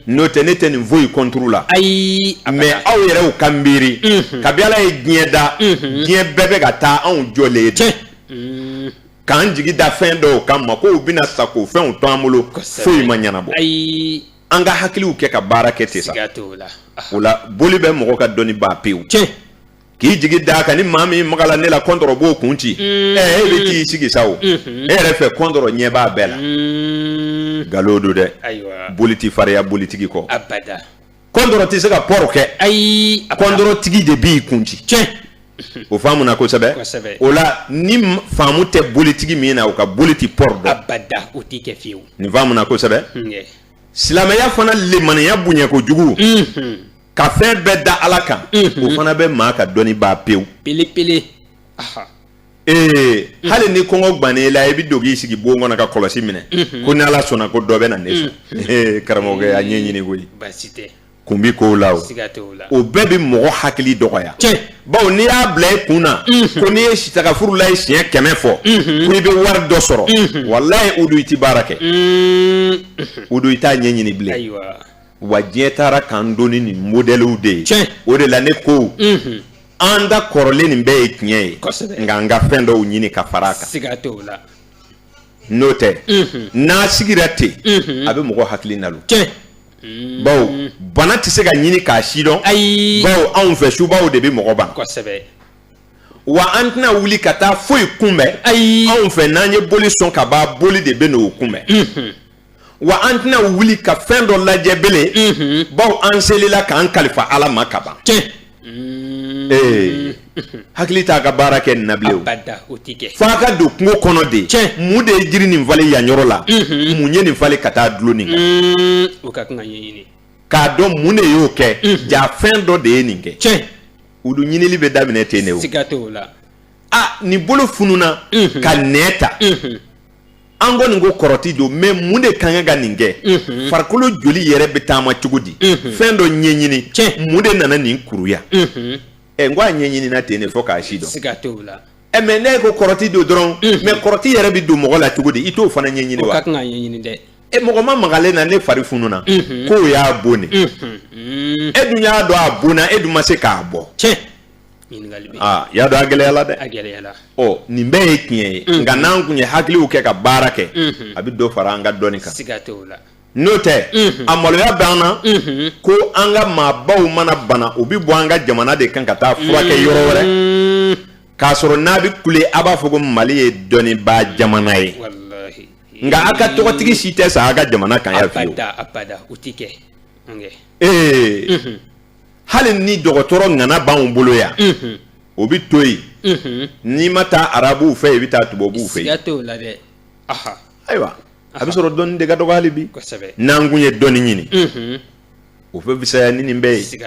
n'o tɛ ne tɛ nin foyi kɔnturu la ayi mɛ aw yɛrɛw ka miiri kabi ala ye diɲɛ da diɲɛ bɛɛ bɛ ka taa anw jɔlen ye k'an jigi da fɛn dɔw kan ma k'u bɛna sago fɛnw to an bolo foyi ma ɲɛnabɔ ayi an ka hakiliw kɛ ka baara kɛ ten sa o la boli bɛ mɔgɔ ka dɔnni ban pewu k'i jigi da kan ni maa min maga la ne la kɔntɔrɔ b'o kun ci mm. ɛ e bɛ t'i sigi sa o mm-hmm. e yɛrɛ fɛ kɔntɔrɔ ɲɛ b'a bɛɛ la mm. nkalon don dɛ boli tɛ fariya bolitigi kɔ kɔntɔrɔ tɛ se ka pɔrɔ kɛ ayi kɔntɔrɔtigi de b'i kun ci o faamu na kosɛbɛ o la ni faamu tɛ bolitigi min na o ka boli tɛ pɔrɔ dɔn nin faamu na kosɛbɛ mm, silamɛya fana lemaniya bonya kojugu mm-hmm. ka fɛn bɛɛ da ala kan o fana bɛ maa ka dɔnni ban pewu pelepele ee hali ni kɔngɔ gannen i la i bɛ don k'i sigi bon kɔnɔ ka kɔlɔsi minɛ ko ni ala sɔnna ko dɔ bɛ na ne sɔn karamɔgɔkɛ a ɲɛɲini koyi kun bi kow la o o bɛɛ bɛ mɔgɔ hakili dɔgɔya bawo n'i y'a bila i kun na ko n'i ye sitagafurulayi siɲɛ kɛmɛ fɔ ko i bɛ wari dɔ sɔrɔ walayi o don i tɛ baara kɛ o don i t'a ɲɛɲini bilen wa diɲɛ taara k'an to ni nin modɛliw de ye Tiɲɛ. o de la ne ko Mhm. an ta kɔrɔlen nin bɛɛ ye tiɲɛ ye Kosɛbɛ. nka an ka fɛn dɔw ɲini ka fara a kan siga t'o la n'o tɛ Mhm. n'a sigira ten Mhm. a bɛ mɔgɔ hakili nalon tiɲɛ bawo bana tɛ se ka ɲini k'a sidɔn ayi bawo anw fɛ subaw de bɛ mɔgɔ ban kosɛbɛ wa an tɛna wuli ka taa foyi kunbɛn ayi anw fɛ n'an ye boli sɔn ka ban boli de bɛn'o kunbɛn Mhm. wa an tɛna wuli ka fɛn dɔ lajɛ bele mhm. bawo an selila k'an kalifa ala ma ka ban ee hakili t'a ka baara kɛ nin na bilen o fo a ka don kungo kɔnɔ de mun de ye jiri nin falen yan yɔrɔ la mhm. mun ye nin falen ka taa dulon nin kan mm, o ka kan ka ɲɛɲini k'a dɔn mun de y'o kɛ mhm. ja fɛn dɔ de ye nin kɛ olu ɲinili bɛ daminɛ ten de o siga t'o la a nin bolo fununa ka nɛn ta an kɔni ko kɔrɔti don mais mun de kan ka nin kɛ farikolo joli yɛrɛ bɛ taama cogo di fɛn dɔ ɲɛɲini mun de nana nin kuruya ɛ n ko a ɲɛɲinina ten de fo k'a sidɔn ɛ mais ne ko kɔrɔti don dɔrɔn mais kɔrɔti yɛrɛ bɛ don mɔgɔ la cogo di i t'o fana ɲɛɲini wa e mɔgɔ ma maga ne na ne fari fununa k'o y'a bon de e dun y'a dɔn a bonna e dun ma se k'a bɔ y'a dɔn a gɛlɛyala dɛ nin bɛɛ ye tiɲɛ ye nka n'an kun ye hakiliw kɛ ka baara kɛ a bɛ dɔ fara an ka dɔnni kan n'o tɛ a maloya bɛ an na ko an ka maabaw mana bana u bɛ bɔ an ka jamana de kan ka taa furakɛ yɔrɔ wɛrɛ k'a sɔrɔ n'a bɛ kule a b'a fɔ ko mali ye dɔnnibaa jamana ye nka a ka tɔgɔtigi si tɛ sa a ka jamana kan yan fewu hali ni dɔgɔtɔrɔ ŋana b'anw bolo yan mhm. o bɛ to yen mhm. n'i ma taa arabuw fɛ i bɛ taa tubabuw fɛ yen ayiwa a bɛ sɔrɔ dɔnni de ka dɔgɔ hali bi n'an kun ye dɔnni ɲini mhm. o bɛ fisaya ni nin bɛɛ ye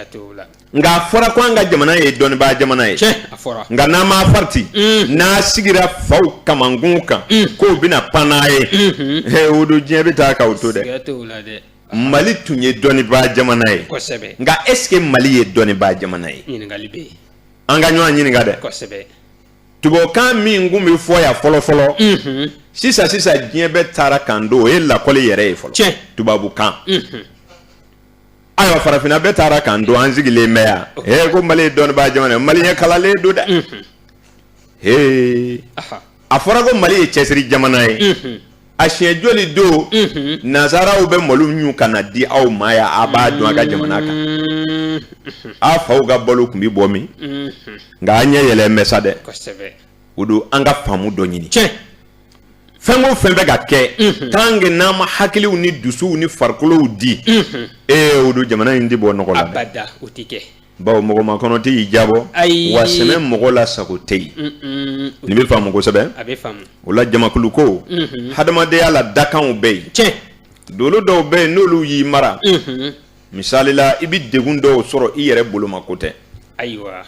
nka a fɔra ko an ka jamana ye dɔnnibaa jamana ye nka n'an ma farati n'a sigira faw kamankun kan k'o bɛna pan n'a ye o don diɲɛ bɛ taa k'aw to dɛ mali tun ye dɔnnibaa jamana ye kosɛbɛ nka est ce que mali ye dɔnnibaa jamana ye ɲininkali bɛ yen an ka ɲɔgɔn ɲininka dɛ kosɛbɛ tubabukan min kun bɛ fɔ yan fɔlɔ fɔlɔ sisan sisan diɲɛ bɛɛ taara k'an to o ye lakɔli yɛrɛ ye fɔlɔ tiɲɛ tubabukan ayiwa farafinna bɛɛ taara k'an to an sigilen bɛ yan ee ko mali ye dɔnnibaa jamana ye maliyɛn kalannen don dɛ ee a fɔra ko mali ye cɛsiri jamana ye a siɲɛ joli don nansaraw bɛ malo ɲun ka na di aw ma yan a b'a dɔn a ka jamana kan a faw ka balo tun bɛ bɔ min nka an ɲɛ yɛlɛn bɛ sa dɛ o don an ka faamu dɔ ɲini fɛn o fɛn bɛ ka kɛ tant que n'an ma hakiliw ni dusuw ni farikolow di e o don jamana in tɛ bɔ nɔgɔ la bawo mɔgɔ makɔnɔ tɛ yen jabɔ ayi wa sɛmɛ mɔgɔ la sago tɛ yen mm, mm. nin bɛ faamu kosɛbɛ a bɛ faamu o la jamakulu ko mm-hmm. hadamadenya la dakanw bɛ yen tiɲɛ dolo dɔw bɛ yen n'olu y'i mara mm-hmm. misali la i bɛ degun dɔw sɔrɔ i yɛrɛ boloma ko tɛ ayiwa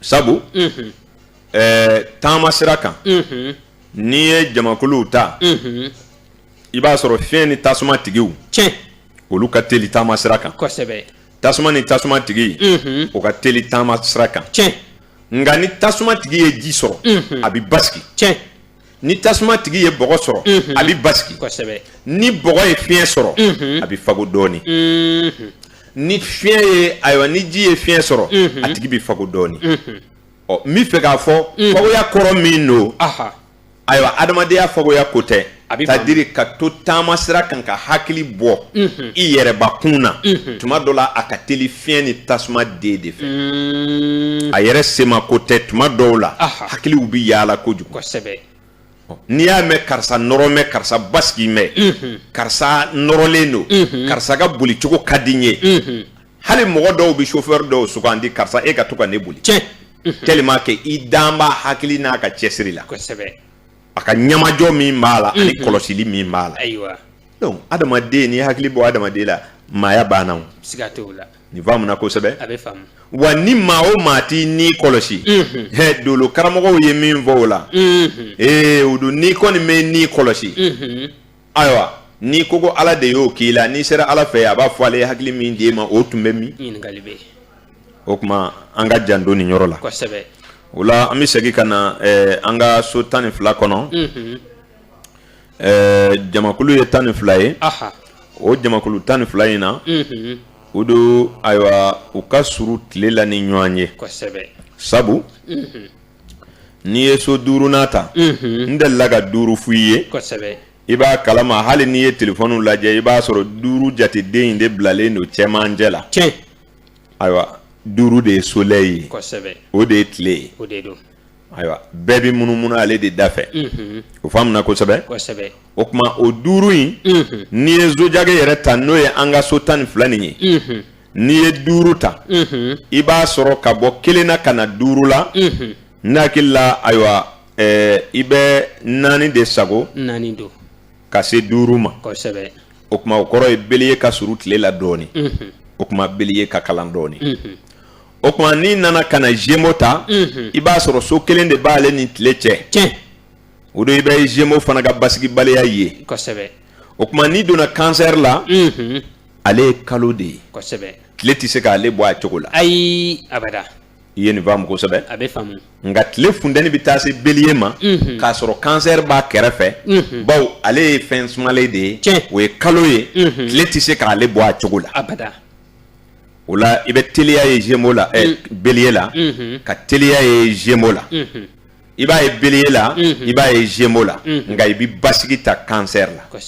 sabu mm-hmm. ɛɛ taama sira kan n'i ye jamakuluw ta i b'a sɔrɔ fiɲɛ ni tasuma tigiw tiɲɛ olu ka teli taama sira kan kosɛbɛ tasuma ni tasuma tigi mhm. o ka teli taama sira kan tiɲɛ nka ni tasuma tigi ye ji sɔrɔ mhm. a bɛ basigi tiɲɛ ni tasuma tigi ye bɔgɔ sɔrɔ mhm. a bɛ basigi kosɛbɛ ni bɔgɔ ye fiɲɛ sɔrɔ a bɛ fago dɔɔnin ni fiɲɛ ye ayiwa ni ji ye fiɲɛ sɔrɔ a tigi bɛ fago dɔɔnin ɔ n bɛ fɛ k'a fɔ fagoya kɔrɔ min don ayiwa adamadenya fagoya ko tɛ c'est-à-dire ka to taama sira kan ka hakili bɔ mhm. i yɛrɛbakun na mhm. tuma dɔ la a ka teli fiɲɛ ni tasuma den de fɛ mm. a yɛrɛ sema ko tɛ tuma dɔw la hakiliw bɛ yaala kojugu n'i y'a mɛn karisa nɔrɔ mɛn karisa basigi mɛn mhm. karisa nɔrɔlen don karisa ka bolicogo ka di n ye hali mɔgɔ dɔw bɛ chauffeur dɔw sugandi karisa e ka to ka ne boli tiɲɛ tellement que i dan b'a hakili n'a ka cɛsiri la kosɛbɛ a ka ɲamajɔ min b'a la ani mhm. kɔlɔsili min b'a la ayiwa donc adamaden n'i hakili bɔ adamaden la maaya banna o siga t'o la nin faamuna kosɛbɛ a bɛ faamu wa ni maa o maa t'i ni kɔlɔsi mhm. hɛ dolo karamɔgɔw ye min fɔ o la mhm. ee o don n'i kɔni m'i ni kɔlɔsi ayiwa n'i ko ko ala de y'o k'i la n'i sera ala fɛ a b'a fɔ ale ye hakili min d'e ma o tun bɛ min o tuma an ka janto nin yɔrɔ la o la an bɛ segin ka na eh, an ka so tan ni fila kɔnɔ mhm. eh, jamakulu ye tan ni fila ye o jamakulu tan ni fila in na mhm. o don ayiwa u ka suru tile la ni ɲɔgɔn ye sabu mhm. N'i ye so duurunan ta n delila ka duuru f'i ye i b'a kalama hali n'i ye telefɔniw lajɛ i b'a sɔrɔ duuru jateden in de bilalen don cɛmancɛ la cɛ ayiwa duuru de ye soleil ye o de ye tile ye ayiwa bɛɛ bɛ munumunu ale de da fɛ o faamuna kosɛbɛ o tuma o duuru in n'i ye zodiaque yɛrɛ ta n'o ye an ka so tan ni fila nin ye n'i ye duuru ta i b'a sɔrɔ ka bɔ kelen na ka na duuru la n hakili la ayiwa i bɛ naani de sago naani don ka se duuru ma o tuma o kɔrɔ ye bélier ka surun tile la dɔɔnin o tuma bélier ka kalan dɔɔnin o tuma n'i nana ka na gémeaux ta i b'a sɔrɔ so kelen de b'ale ni tile cɛ o don i bɛ gémeaux fana ka basigibaliya ye o tuma n'i donna cancer la ale ye kalo de ye kosɛbɛ tile tɛ se k'ale bɔ a cogo la ayi abada i ye nin faamu kosɛbɛ a bɛ faamu nka tile funtɛni bɛ taa se bélier ma mhm. k'a sɔrɔ cancer b'a kɛrɛfɛ mhm. bawo ale ye fɛn sumalen de ye o ye kalo ye mhm. tile tɛ se k'ale bɔ a cogo la abada o la i bɛ teliya ye gémeaux la eh, bélier la ka teliya ye gémeaux la i b'a ye bélier la i b'a ye gémeaux la nka i bɛ basigi ta cancer la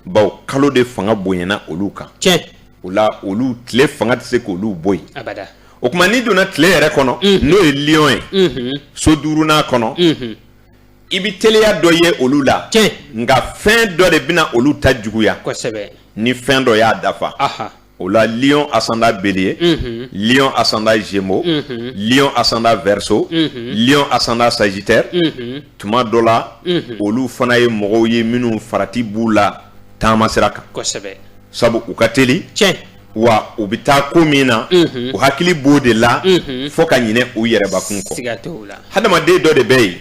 bawo kalo de fanga bonyana olu kan o la olu tile fanga tɛ se k'olu bɔ yen o tuma n'i donna tile yɛrɛ kɔnɔ n'o ye lion ye so duurunan kɔnɔ i bɛ teliya dɔ ye olu la nka fɛn dɔ de bɛna olu ta juguya ni fɛn dɔ y'a dafa o la lion ascendant bélier mm -hmm. lion ascendant gémeaux mm -hmm. lion ascendant verseau mm -hmm. lion ascendant sagittaire mm -hmm. tuma dɔ la mm -hmm. olu fana ye mɔgɔw ye minnu farati b'u la taama sira kan kosɛbɛ sabu u ka teli tiɲɛ wa u bɛ taa ko min na mm -hmm. u hakili b'o de la mm -hmm. fo ka ɲinɛ u yɛrɛbakun kɔ siga t'o la hadamaden dɔ de bɛ yen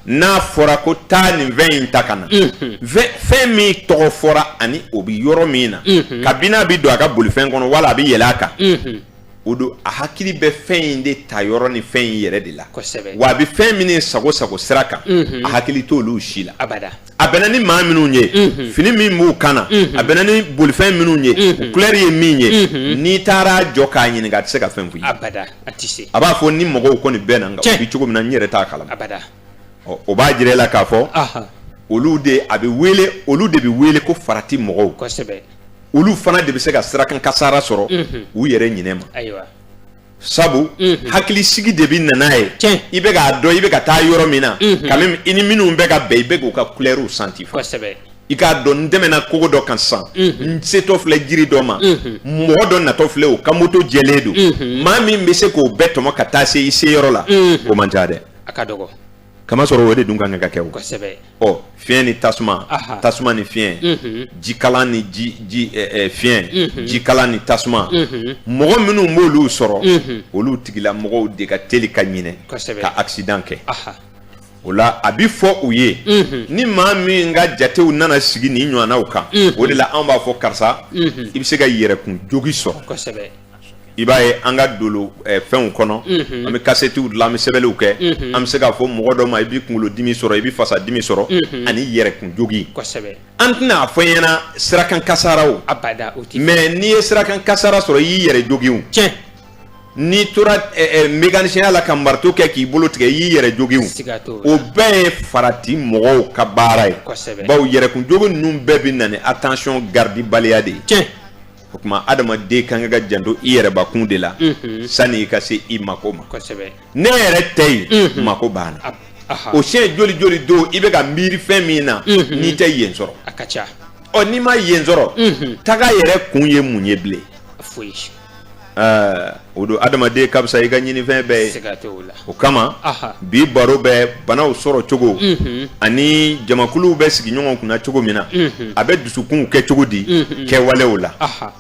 n'a fɔra ko taa nin fɛn in ta ka na fɛn min tɔgɔ fɔra ani o bɛ yɔrɔ min na kabini a bɛ don a ka bolifɛn kɔnɔ wala a bɛ yɛlɛ a kan o don a hakili bɛ fɛn in de ta yɔrɔ ni fɛn in yɛrɛ de la wa a bɛ fɛn min sago sago sira kan a hakili t' olu si la a bɛnna ni maa minnu ye fini min b'u kan na a bɛnna ni bolifɛn minnu ye couleur ye min ye n'i taar'a jɔ k'a ɲininka a tɛ se ka fɛn f'i ye a tɛ se a b'a fɔ n ni mɔgɔw kɔni bɛnna nka u bɛ cogo min na n yɛrɛ t'a kalama abada o b'a jira i la k'a fɔ olu de a bɛ wele olu de bɛ wele ko farati mɔgɔw kosɛbɛ olu fana de bɛ se ka sirakan kasara sɔrɔ u yɛrɛ ɲinɛ ma ayiwa sabu hakilisigi de bɛ na n'a ye i bɛ k'a dɔn i bɛ ka taa yɔrɔ min na quand même i ni minnu bɛ ka bɛn i bɛ k'u ka couleurw santi kosɛbɛ i k'a dɔn n tɛmɛna kogo dɔ kan sisan n setɔ filɛ jiri dɔ ma mɔgɔ dɔ natɔ filɛ o ka moto jɛlen don maa min bɛ se k'o bɛɛ tɔmɔ ka taa se i se yɔrɔ la o man ca dɛ a ka dɔgɔ kamasɔrɔ o de dun ka kan ka kɛ o kosɛbɛ ɔ fiɲɛ ni tasuma tasuma ni fiɲɛ jikalan ni ji ji fiɲɛ jikalan ni tasuma mɔgɔ minnu b'olu sɔrɔ olu tigila mɔgɔw de ka teli ka ɲinɛ ka accident kɛ o la a bɛ fɔ u ye ni maa min ka jatew nana sigi nin ɲɔgɔnnaw kan o de la an b'a fɔ karisa i bɛ se ka yɛrɛkun jogin sɔrɔ i b'a ye an ka dolo fɛnw kɔnɔ an bɛ kasetiw dilan an bɛ sɛbɛnniw kɛ an bɛ se k'a fɔ mɔgɔ dɔ ma i bɛ kunkolo dimi sɔrɔ i bɛ fasa dimi sɔrɔ ani yɛrɛkun jogin an tɛna a fɔ i ɲɛna sirakan kasaraw mais n'i ye sirakan kasara sɔrɔ i y'i yɛrɛ jogin cɛ n'i tora mécanicienya la ka marteau kɛ k'i bolo tigɛ i y'i yɛrɛ jogin o o bɛɛ ye farati mɔgɔw ka baara ye kosɛbɛ bawo yɛrɛkun jogo ninnu bɛɛ bɛ na ni attention gardebaliya de ye tiɲɛ o kuma adamaden kan ka janto i yɛrɛbakun de la sani i ka se i mako ma kosɛbɛ n'e yɛrɛ tɛ yen mako banna o siɲɛ joli joli don i bɛ ka miiri fɛn min na n'i tɛ yen sɔrɔ a ka ca ɔ n'i ma yen sɔrɔ taga yɛrɛ kun ye mun ye bilen foyi Ɛɛ o don adamaden ka fisa i ka ɲinifɛn bɛɛ ye, siga t'o la, o kama, anhan, bi baro bɛ banaw sɔrɔ cogo, unhun, ani jamakuluw bɛ sigi ɲɔgɔn kunna cogo min na, unhun, a bɛ dusukunw kɛ cogo di, unhun, kɛwalew la, anhan,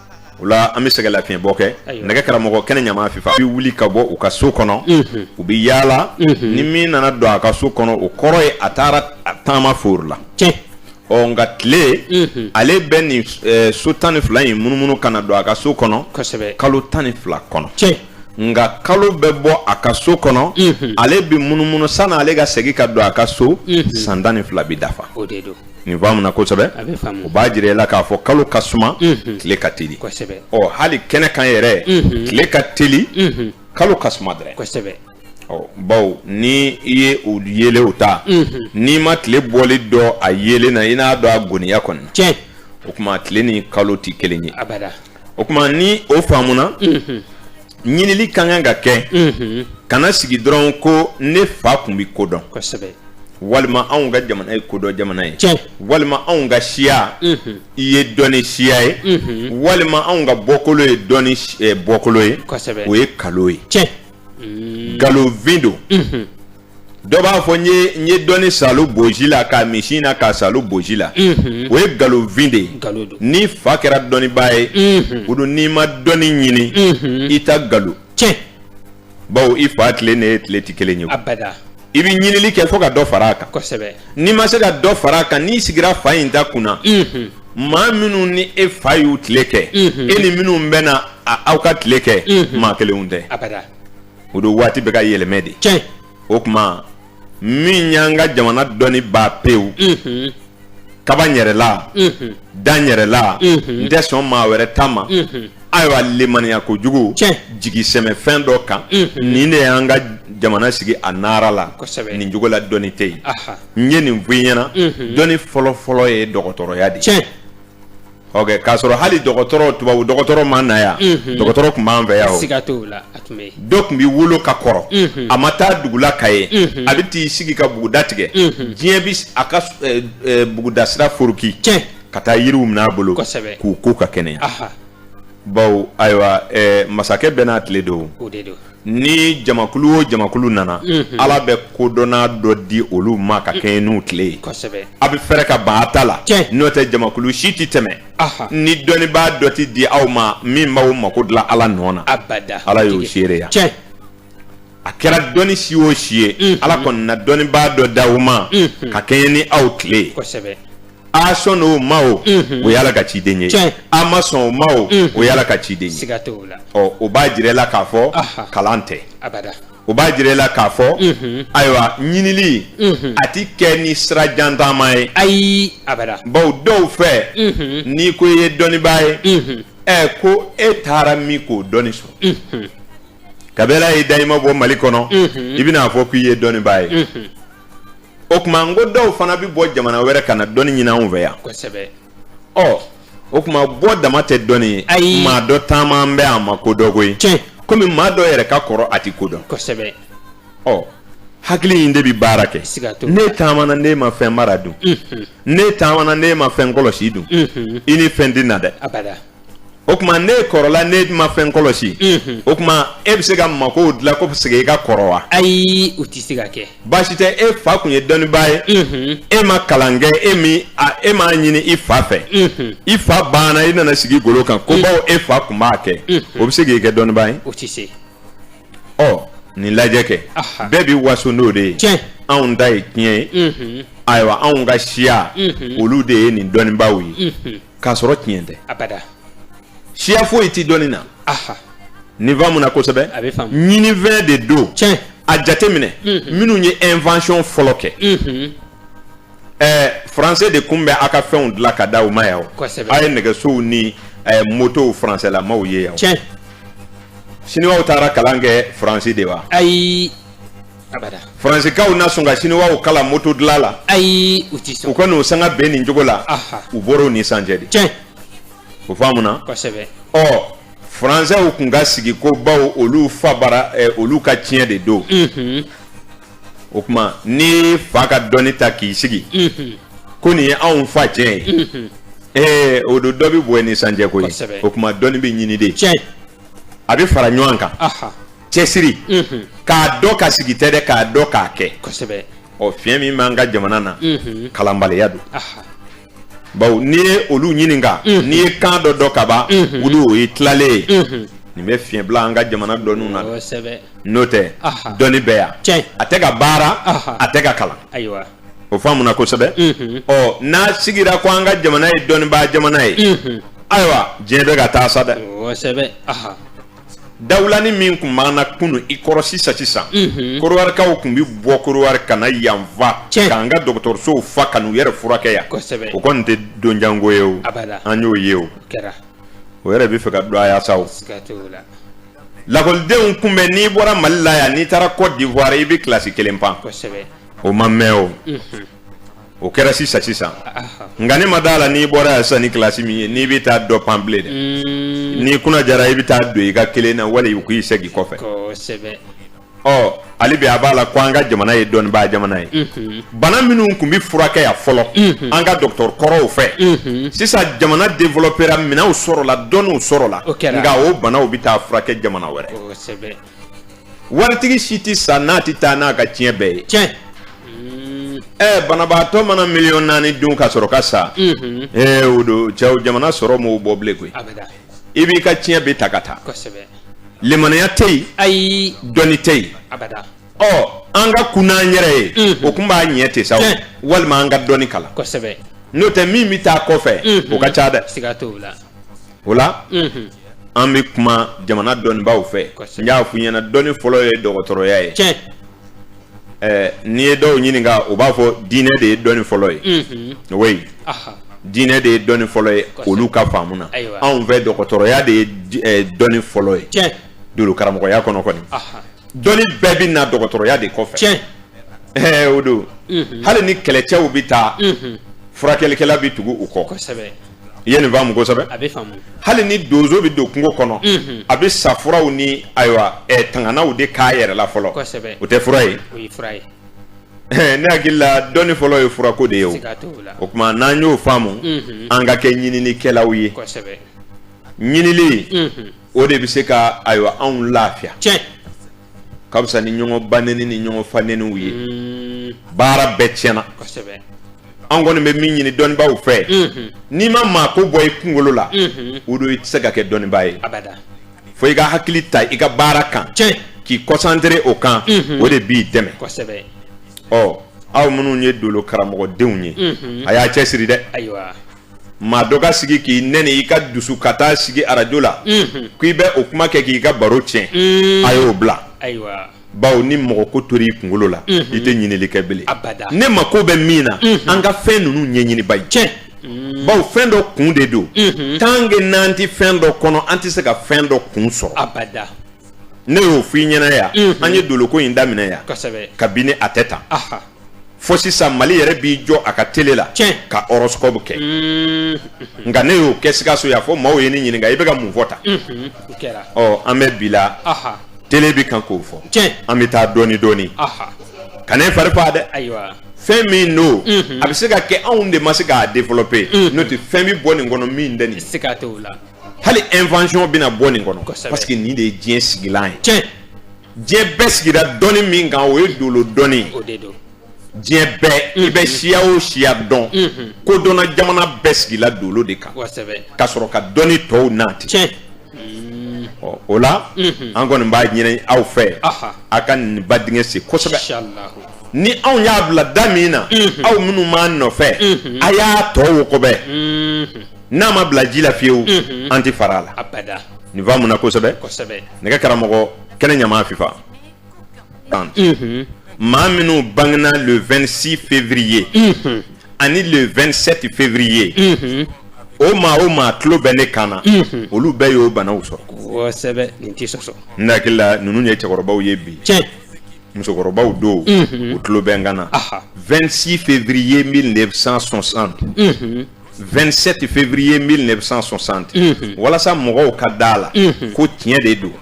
o la an bɛ sɛgɛnlafiɲɛbɔ kɛ, ayiwa, nɛgɛ karamɔgɔ kɛnɛ ɲama fifa u bɛ wuli ka bɔ u ka so kɔnɔ, unhun, u bɛ yaala, unhun, ni min nana don a ka so kɔnɔ o kɔrɔ ye a taara taama foori la, tiɲɛ ɔ nka tile mhm. ale bɛ nin eh, so tan ni fila in munumunu ka na don a ka so kɔnɔ kalo tan ni fila kɔnɔ nka kalo bɛ bɔ a ka so kɔnɔ mhm. ale bɛ munumunu sani ale ka segin ka don a ka so mhm. san tan ni fila bɛ dafa nin faamuna kosɛbɛ o b'a jira i la k'a fɔ kalo ka suma tile ka teli ɔ hali kɛnɛ kan yɛrɛ tile ka teli kalo ka suma dɛrɛ bawo ni i ye o yeelenw ta n'i ma tile bɔlen dɔn a yeelen na i n'a dɔn a goniya kɔni tiɲɛ o kuma tile ni kalo tɛ kelen ye abada o kuma ni o faamuna ɲinili ka kan ka kɛ kana sigi dɔrɔn ko ne fa tun bɛ ko dɔn kosɛbɛ walima anw ka jamana ye kodɔn jamana ye tiɲɛ walima anw ka siya in ye dɔnni siya ye walima anw ka bɔkolo ye dɔnni bɔkolo ye kosɛbɛ o ye nkalon ye tiɲɛ nkalonfin don dɔ b'a fɔ n ye n ye dɔnni salo boji la k'a min sin na k'a salo boji la o ye nkalonfin de ye n'i fa kɛra dɔnnibaa ye o don n'i ma dɔnni ɲini i ta nkalon bawo i fa tile ni e tile tɛ kelen ye i bɛ ɲinili kɛ fo ka dɔ fara a kan kosɛbɛ n'i ma se ka dɔ fara a kan n'i sigira fa in ta kunna maa minnu ni e fa y'u tile kɛ e ni minnu bɛ na aw ka tile kɛ maa kelenw tɛ o don waati bɛ ka yɛlɛmɛ de o kuma min y'an ka jamana dɔnni ban pewu kaba yɛrɛ la da yɛrɛ la n tɛ sɔn maa wɛrɛ ta ma ayiwa lemaniya kojugu jigi sɛmɛ fɛn dɔ kan nin de y'an ka jamana sigi a nara la nin cogo la dɔnni tɛ yen n ye nin fɔ i ɲɛna dɔnni fɔlɔfɔlɔ ye dɔgɔtɔrɔya de k'a sɔrɔ hali dɔgɔtɔrɔ tubabu dɔgɔtɔrɔ ma na yan dɔgɔtɔrɔ tun b'an fɛ yan dɔ tun bɛ wolo ka kɔrɔ a ma taa dugula ka ye a bɛ t'i sigi ka buguda tigɛ diɲɛ bɛ a ka buguda sira foroki ka taa yiriw minɛ a bolo k'u ko ka kɛnɛya baw ayiwa masakɛ bɛɛ n'a tile don ni jamakulu o jamakulu nana ala bɛ kodɔnna dɔ di olu ma ka kɛɲɛ n'u tile ye a bɛ fɛrɛ ka ban a ta la n'o tɛ jamakulu si tɛ tɛmɛ ni dɔnnibaa dɔ tɛ di aw ma min b'aw mako dilan ala nɔ na ala y'o seereya a kɛra dɔnni si o si ye ala kɔni na dɔnnibaa dɔ d'aw ma ka kɛɲɛ ni aw tile ye a sɔn o ma o o y'ala ka ciden ye a ma sɔn o ma o o y'ala ka ciden ye ɔ o b'a jira la k'a fɔ kalan tɛ o b'a jira la k'a fɔ ayiwa ɲinili a tɛ kɛ ni sira jan taama ye ayi baw dɔw fɛ n'i ko i ye dɔnnibaa ye ɛ ko e taara min k'o dɔnni sɔrɔ kabi ala y'i da i ma bɔ mali kɔnɔ i bɛnaa fɔ k'i ye dɔnnibaa ye o kuma n ko dɔw fana bɛ bɔ jamana wɛrɛ ka na dɔnni ɲini anw fɛ yan kosɛbɛ ɔ o kuma bɔ dama tɛ dɔnni ye Ayi. maa dɔ taamalen bɛ a ma ko dɔn koyi tiɲɛ komi maa dɔ yɛrɛ ka kɔrɔ a tɛ ko dɔn kosɛbɛ ɔ hakili in de bɛ baara kɛ Siga t'o la. ne taamana ne ma fɛn mara dun ne taamana ne ma fɛn kɔlɔsi dun i ni fɛn tɛ na dɛ abada o kuma ne kɔrɔla ne ma fɛn kɔlɔsi o kuma e bɛ se ka makow dilan ko c'est que i ka kɔrɔ wa ayi o tɛ se ka kɛ baasi tɛ e fa kun ye dɔnnibaa ye e ma kalan kɛ e m'a ɲini i fa fɛ i fa banna i nana sigi golo kan ko baw e fa kun b'a kɛ o bɛ se k'i kɛ dɔnnibaa ye o tɛ se ɔ nin lajɛ kɛ bɛɛ bɛ waso n'o de ye tiɲɛ anw ta ye tiɲɛ ye ayiwa anw ka siya olu de ye nin dɔnnibaaw ye k'a sɔrɔ tiɲɛ tɛ abada siya foyi tɛ dɔnni na aha nin faamu na kosɛbɛ A bɛ faamu. ɲinifɛn de don tiɲɛ a jateminɛ minnu ye invention fɔlɔ kɛ Mhm. ɛɛ français de kun bɛ a ka fɛnw dilan ka d'aw ma yan o Kosɛbɛ. a ye nɛgɛsow ni ɛɛ motow français lamaw ye yan o tiɲɛ siniwaw taara kalan kɛ faransi de wa ayi faransikaw na sɔn ka siniwaw kalan moto dila la ayi u tɛ sɔn u ka n'o sanga bɛn nin cogo la u bɔra o ni sancɛ de tiɲɛ o faamuna kosɛbɛ ɔ faransɛw kun ka sigi ko bawo olu fa bara eh, olu ka tiɲɛ de don mhm. o kuma n'i fa ka dɔnni ta k'i sigi mhm. ko nin ye anw fa tiɲɛ ye mhm. eh, o don dɔ bɛ bɔ ni sancɛ ko ye o kuma dɔnni bɛ ɲini de tiɲɛ a bɛ fara ɲɔgɔn kan cɛsiri k'a dɔn ka sigi tɛ dɛ k'a dɔn k'a kɛ ɔ fiɲɛ min b'an ka jamana na kalanbaliya don bawo n'i ye olu ɲininka n'i ye kan dɔ dɔn kaban olu o ye tilalen ye nin bɛ fiɲɛ bila an ka jamana dɔnniw na n'o tɛ dɔnni bɛ yan a tɛ ka baara a tɛ ka kalan o faamuna kosɛbɛ ɔ n'a sigira ko an ka jamana ye dɔnnibaa jamana ye ayiwa diɲɛ bɛ ka taa sa dɛ dawulani min kun b'an na kunun i kɔrɔ sisan sisan korowarikaw kun bɛ bɔ korowari ka na yanfa k'an ka dɔgɔtɔrɔsow fa ka n'u yɛrɛ furakɛ yan o kɔni tɛ don jan ko ye o an y'o ye o o yɛrɛ bɛ fɛ ka don aya sa lakɔlidenw kun bɛ n'i bɔra mali la yan n'i taara côte d'ivoire i bɛ kilasi kelen pan o ma mɛn o o kɛra sisan sisan nka ne ma d'a la n'i bɔra yan sisan ni kilasi min ye n'i bɛ taa dɔ pan bilen dɛ mm. n'i kunna jara i bɛ taa don i ka kelen na wali u k'i segin kɔfɛ ɔ hali bi a b'a la ko an ka jamana ye dɔnnibaa jamana ye mhm. bana minnu kun bɛ furakɛ yan fɔlɔ mhm. an ka dɔgɔtɔrɔ kɔrɔw fɛ mhm. sisan jamana developera minɛnw sɔrɔla dɔnniw sɔrɔla nka o banaw bɛ taa furakɛ jamana wɛrɛ waritigi si tɛ sa n'a tɛ taa n'a ka tiɲɛ bɛɛ ye tiɲɛ ɛɛ eh, banabaatɔ mana miliyɔn naani dun ka sɔrɔ ka sa ee mhm. eh, o don cɛ o jamana sɔrɔ m'o bɔ bilen koyi i b'i ka tiɲɛ bɛ ta ka taa limaniya tɛ yen ayi dɔnni tɛ yen ɔ an ka kunun an yɛrɛ ye mhm. o kun b'a ɲɛ ten sa walima an ka dɔnni kalan n'o tɛ min bɛ taa kɔfɛ mhm. o ka ca dɛ o la an bɛ kuma jamana dɔnnibaaw fɛ n y'a fɔ i ɲɛna dɔnni fɔlɔ ye dɔgɔtɔrɔya ye tiɲɛ ɛɛ n'i ye dɔw ɲininka u b'a fɔ diinɛ de ye dɔnni fɔlɔ ye o ye diinɛ de ye dɔnni fɔlɔ ye olu ka faamu na anw fɛ dɔgɔtɔrɔya de ye dɔnni fɔlɔ ye tiɲɛ don karamɔgɔya kɔnɔ kɔni dɔnni bɛɛ bɛ na dɔgɔtɔrɔya de kɔfɛ tiɲɛ ɛɛ o don hali ni kɛlɛcɛw bɛ taa furakɛlikɛla bɛ tugu u kɔ kosɛbɛ i ye nin faamu kosɛbɛ a bɛ faamu hali ni donso bɛ don kungo kɔnɔ mhm. a bɛ sa furaw ni ayiwa ɛ eh, tanganaw de k'a yɛrɛ la fɔlɔ kosɛbɛ o tɛ fura ye o ye fura ye eh, ne hakili la dɔnni fɔlɔ ye furako de ye o o tuma n'an y'o faamu mhm. an ka kɛ ɲininikɛlaw ye kosɛbɛ ɲinili mhm. o de bɛ se ka ayiwa anw lafiya tiɲɛ ka fisa ni ɲɔgɔn baneni ni ɲɔgɔn faneniw ye mm. baara bɛɛ tiɲɛna kosɛbɛ an kɔni bɛ min ɲini dɔnnibaaw fɛ n'i ma maa ko bɔ i kunkolo la o don i tɛ se ka kɛ dɔnnibaa ye fo i ka hakili ta i ka baara kan k'i concentrer o kan o de b'i dɛmɛ ɔ aw minnu ye dolo karamɔgɔdenw ye a y'a cɛ siri dɛ maa dɔ ka sigi k'i nɛni i ka dusu ka taa sigi arajo la k'i bɛ o kuma kɛ k'i ka baro tiɲɛ a y'o bila bawo ni mɔgɔ ko tora i kunkolo la mhm. i tɛ ɲinili kɛ bele ne mako bɛ min na mhm. an ka fɛn ninnu ɲɛɲini ba ye cɛ mhm. bawo fɛn dɔ kun de don tant que n'an tɛ fɛn dɔ kɔnɔ an tɛ se ka fɛn dɔ kun sɔrɔ ne y'o fɔ i ɲɛna yan an ye doloko in daminɛ yan kabini a tɛ tan fo sisan mali yɛrɛ b'i jɔ a ka tele la ka horoscope kɛ mm. nka ne y'o kɛ sikaso yan fo maaw ye ne ɲininka i bɛ ka mun fɔ tan mm-hmm. ɔ an bɛ bi la tele bɛ kan k'o fɔ an bɛ taa dɔɔni dɔɔni kan'i fari fa dɛ fɛn min don mm-hmm. a bɛ se ka kɛ anw de ma se k'a développer mm-hmm. n'o tɛ fɛn bɛ bɔ nin kɔnɔ min tɛ nin se ka t'o la hali invention bɛna bɔ nin kɔnɔ parce que nin de ye diɲɛ sigilan ye diɲɛ bɛɛ sigira dɔnni min kan o ye dolo dɔnni ye diɲɛ bɛɛ i bɛ siya o siya dɔn kodɔnna jamana bɛɛ sigila dolo de kan ka sɔrɔ ka dɔnni tɔw nati o la an kɔni b'a ɲini aw fɛ a ka nin ba dingɛ sen kosɛbɛ ni anw y'a bila da min na aw minnu b'an nɔfɛ a y'a tɔ wo kɔbɛ n'a ma bila ji la fiyewu an tɛ fara a la abada nin faamuna kosɛbɛ kosɛbɛ nɛgɛ karamɔgɔ kɛnɛ ɲama fifa tan maa minnu bangena le 26 février ani le 27 février o maa o maa tulo bɛ ne kan na olu bɛɛ y'o banaw sɔrɔ kosɛbɛ nin tɛ sɔsɔ n hakili la ninnu ye cɛkɔrɔbaw ye bi tiɲɛ musokɔrɔbaw don u tulo bɛ n kan na aha 26 février 1960 27 février 1960 walasa mɔgɔw ka da la ko tiɲɛ de don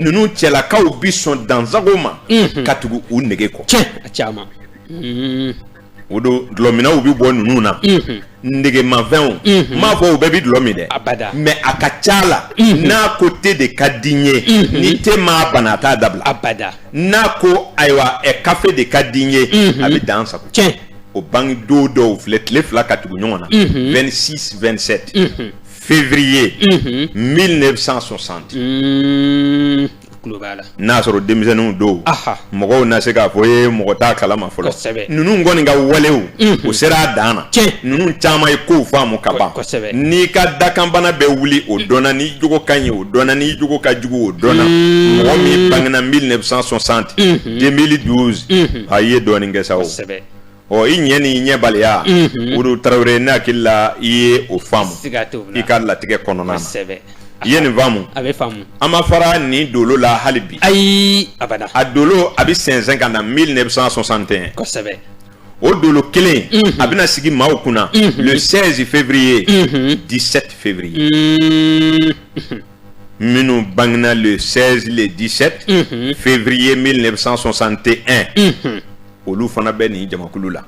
ninnu cɛlakaw bɛ sɔn dansago ma ka tugu u nege kɔ caman o don dulɔminnaw bɛ bɔ ninnu na negemafɛnw n m'a fɔ u bɛɛ bɛ dulɔ min dɛ mais a ka ca la n'a ko te de ka di n ye ni te m'a bana a t'a dabila n'a ko ayiwa kafe de ka di n ye a bɛ dansago o bange don dɔw filɛ tile fila ka tugu ɲɔgɔn na 26 27 février 1960 n'a sɔrɔ denmisɛnninw don mɔgɔw na se k'a fɔ i ye mɔgɔ t'a kalama fɔlɔ ninnu kɔni ka walew o sera a dan na ninnu caman ye kow faamu ka ban n'i ka dakanbana bɛ wuli o dɔnna n'i jogo ka ɲi o dɔnna n'i jogo ka jugu o dɔnna mɔgɔ min bangena 1960 2012 a ye dɔɔnin kɛ sa o ɔ i ɲɛ n'i ɲɛbaliya olu tarawele ne hakili la i ye o faamu i ka latigɛ kɔnɔna i ye nin faamu a bɛ faamu an ma fara nin dolo la hali bi ayi a a dolo a bɛ sɛnsɛn ka na 1961 kosɛbɛ o dolo kelen a bɛna sigi maaw kunna le 16 février 17 février minnu bangena le 16 le 17 février 1961 olu fana bɛ nin jamakulu la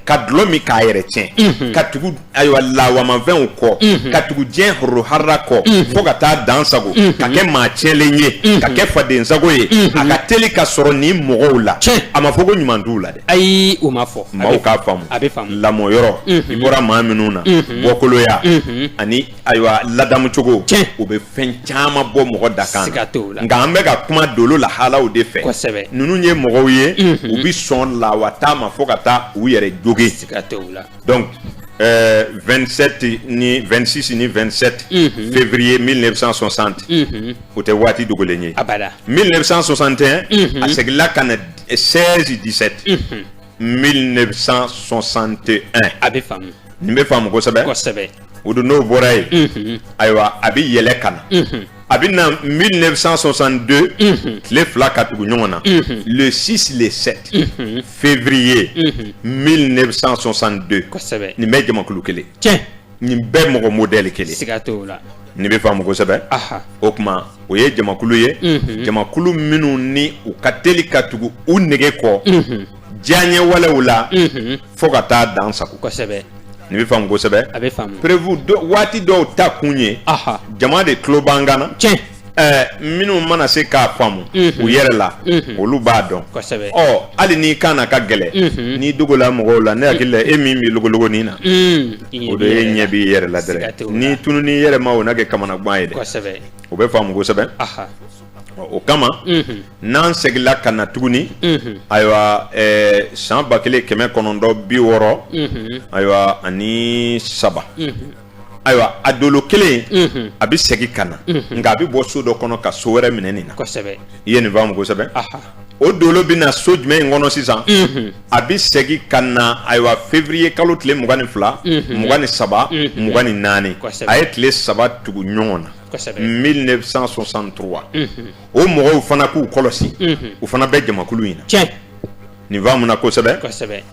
ka dulɔ min k'a yɛrɛ tiɲɛ ka tugu ayiwa lawamanfɛnw kɔ ka tugu diɲɛ horo hara kɔ fo ka taa dan sago ka kɛ maa tiɲɛlen ye ka kɛ fadensago ye a ka teli ka sɔrɔ nin mɔgɔw la a ma fɔ ko ɲuman t'u la dɛ ayi o ma fɔ maaw k'a faamu a bɛ faamu lamɔyɔrɔ i bɔra maa minnu na bɔkoloya ani ayiwa ladamu cogo tiɲɛ o bɛ fɛn caman bɔ mɔgɔ dakan na siga t'o la nka an bɛ ka kuma dolo lahalaw de fɛ kosɛbɛ ninnu ye mɔgɔw ye u bɛ sɔn lawata ma fo ka taa u yɛrɛ jogin siga t'o la donc euh, 27 ni 26 ni 27 février 1960 o tɛ waati dogolen ye abada 1961 a seginna ka na 16 17 1961 a bɛ faamu nin bɛ faamu kosɛbɛ kosɛbɛ o don n'o bɔra yen mhm. ayiwa a bɛ yɛlɛ ka na mhm. a bɛ na 1962 mhm. tile fila ka tugu ɲɔgɔn na le 6 le 7 février 1962 kosɛbɛ nin bɛɛ jamakulu kelen tiɲɛ nin bɛɛ mɔgɔ modɛli kelen siga t'o la nin bɛ faamu kosɛbɛ o tuma o ye jamakulu ye jamakulu minnu ni u ka teli ka tugu u nege kɔ diyanye walew la fo ka taa dan sago kosɛbɛ nin bɛ faamu kosɛbɛ a bɛ faamu prévu waati dɔw ta kun ye jama de tulo b'an kan na tiɲɛ minnu mana se k'a faamu u yɛrɛ la olu b'a dɔn ɔ hali n'i kan na ka gɛlɛn n'i dogola mɔgɔw la ne hakili la e min bɛ logologonin na o de ye ɲɛ b'i yɛrɛ la dɛrɛ n'i tununn'i yɛrɛ ma o na kɛ kamanagan ye dɛ o bɛ faamu kosɛbɛ o kama n'an seginla ka na tuguni ayiwa san ba kelen kɛmɛ kɔnɔntɔn bi wɔɔrɔ ayiwa ani saba ayiwa a dolo kelen a bɛ segin ka na nka a bɛ bɔ so dɔ kɔnɔ ka so wɛrɛ minɛ nin na i ye nin faamu kosɛbɛ o dolo bɛ na so jumɛn in kɔnɔ sisan a bɛ segin ka na ayiwa février kalo tile mugan ni fila mugan ni saba mugan ni naani a ye tile saba tugu ɲɔgɔn na 1963 o mɔgɔw fana k'u kɔlɔsi u fana bɛ jamakulu in na nin faamuna kosɛbɛ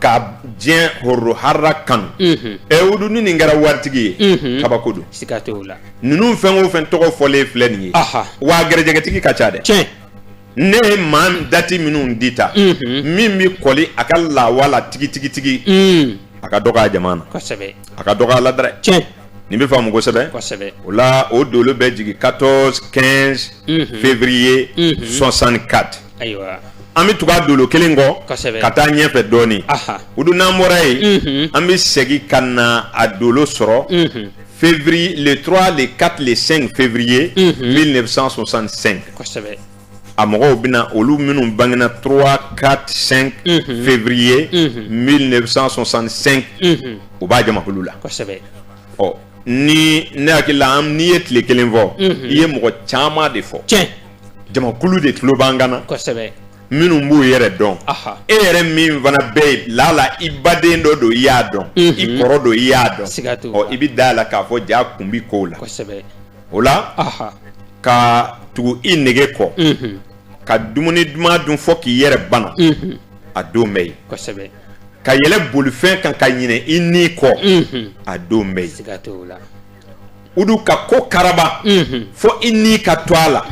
ka diɲɛ horo hara kanu ɛ o dun ni nin kɛra waritigi ye kabako don ninnu fɛn o fɛn tɔgɔ fɔlen filɛ nin ye wa garijɛgɛtigi ka ca dɛ ne ye maa dati minnu di ta min bɛ kɔli a ka lawala tigitigitigi a ka dɔgɔ a jama na a ka dɔgɔ a la dɛrɛ nin bɛ faamu kosɛbɛ o la o dolo bɛ jigin 14 15 février 64 ayiwa an bɛ tugu a dolo kelen kɔ kosɛbɛ ka taa ɲɛfɛ dɔɔnin aha o dun n'an bɔra yen Mhm. an bɛ segin ka na a dolo sɔrɔ Mhm. février le 3 le 4 le 5 février Mhm. 1965 kosɛbɛ a mɔgɔw bɛna olu minnu bangena 3 4 5 Mhm. février Mhm. 1965 Mhm. u b'a jamakulu la kosɛbɛ ɔ ni ne hakili la an- n'i ye tile kelen fɔ Mhm. i ye mɔgɔ caman de fɔ tiɲɛ jamakulu de tulo b'an kan na kosɛbɛ minnu b'u yɛrɛ dɔn e yɛrɛ min fana bɛ yen lala i baden dɔ don i y'a dɔn i kɔrɔ don i y'a dɔn i bɛ da la k'a fɔ ja kun bɛ kow la o la ka tugu i nege kɔ ka dumuni duman dun fɔ k'i yɛrɛ bana a don bɛ yen ka yɛlɛ bolifɛn kan ka ɲinɛ i ni kɔ a don bɛ yen u dun ka ko karaba fo i ni ka to a la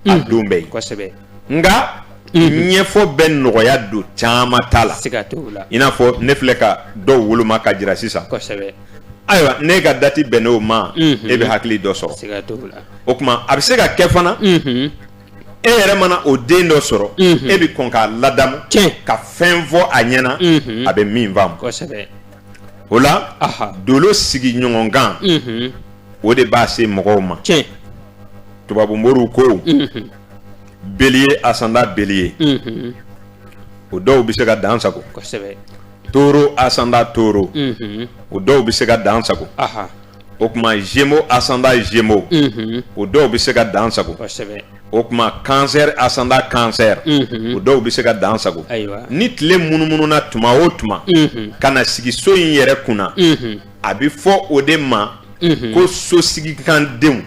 a don bɛ yen nka ɲɛfɔ bɛ nɔgɔya don caman ta la i n'a fɔ ne filɛ ka dɔw woloma ka jira sisan ayiwa ne ka dati bɛnn'o ma e bɛ hakili dɔ sɔrɔ o tuma a bɛ se ka kɛ fana e yɛrɛ mana o den dɔ sɔrɔ e bɛ kɔn k'a ladamu ka fɛn fɔ a ɲɛna a bɛ min faamu o la dolo sigi ɲɔgɔnkan o de b'a se mɔgɔw ma tubabu moriw ko Bélier ascendant Bélier o dɔw bɛ se ka dansago Taureau ascendant Taureau o dɔw bɛ se ka dansago o tuma Gémeaux ascendant Gémeaux o dɔw bɛ se ka dansago o tuma Cancer ascendant Cancer o dɔw bɛ se ka dan sago ni tile munumununa tuma o tuma ka na sigi so in yɛrɛ kunna a bɛ fɔ o de ma ko so sigikandenw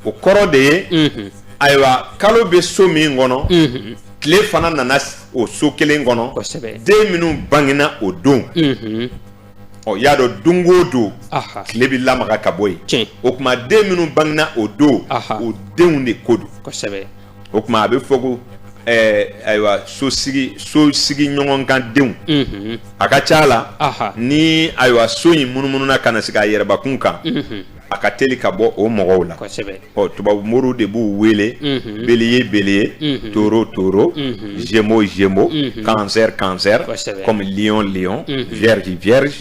o kɔrɔ de ye ayiwa kalo bɛ so min kɔnɔ tile fana nana o so kelen kɔnɔ den minnu bangena o don ɔ y'a dɔn don o don tile bɛ lamaga ka bɔ yen o tuma den minnu bangena o don o denw de ko don o tuma a bɛ fɔ ko ayiwa so sigi so sigi ɲɔgɔn kan denw a ka ca a la ni ayiwa so in munumununa ka na sigi a yɛrɛbakun kan a ka teli ka bɔ o mɔgɔw la ɔ tubabu moriw de b'u wele mhm. bélier bélier mhm. taureau taureau mhm. gémeaux gémeaux cancer cancer comme lion lion vierge vierge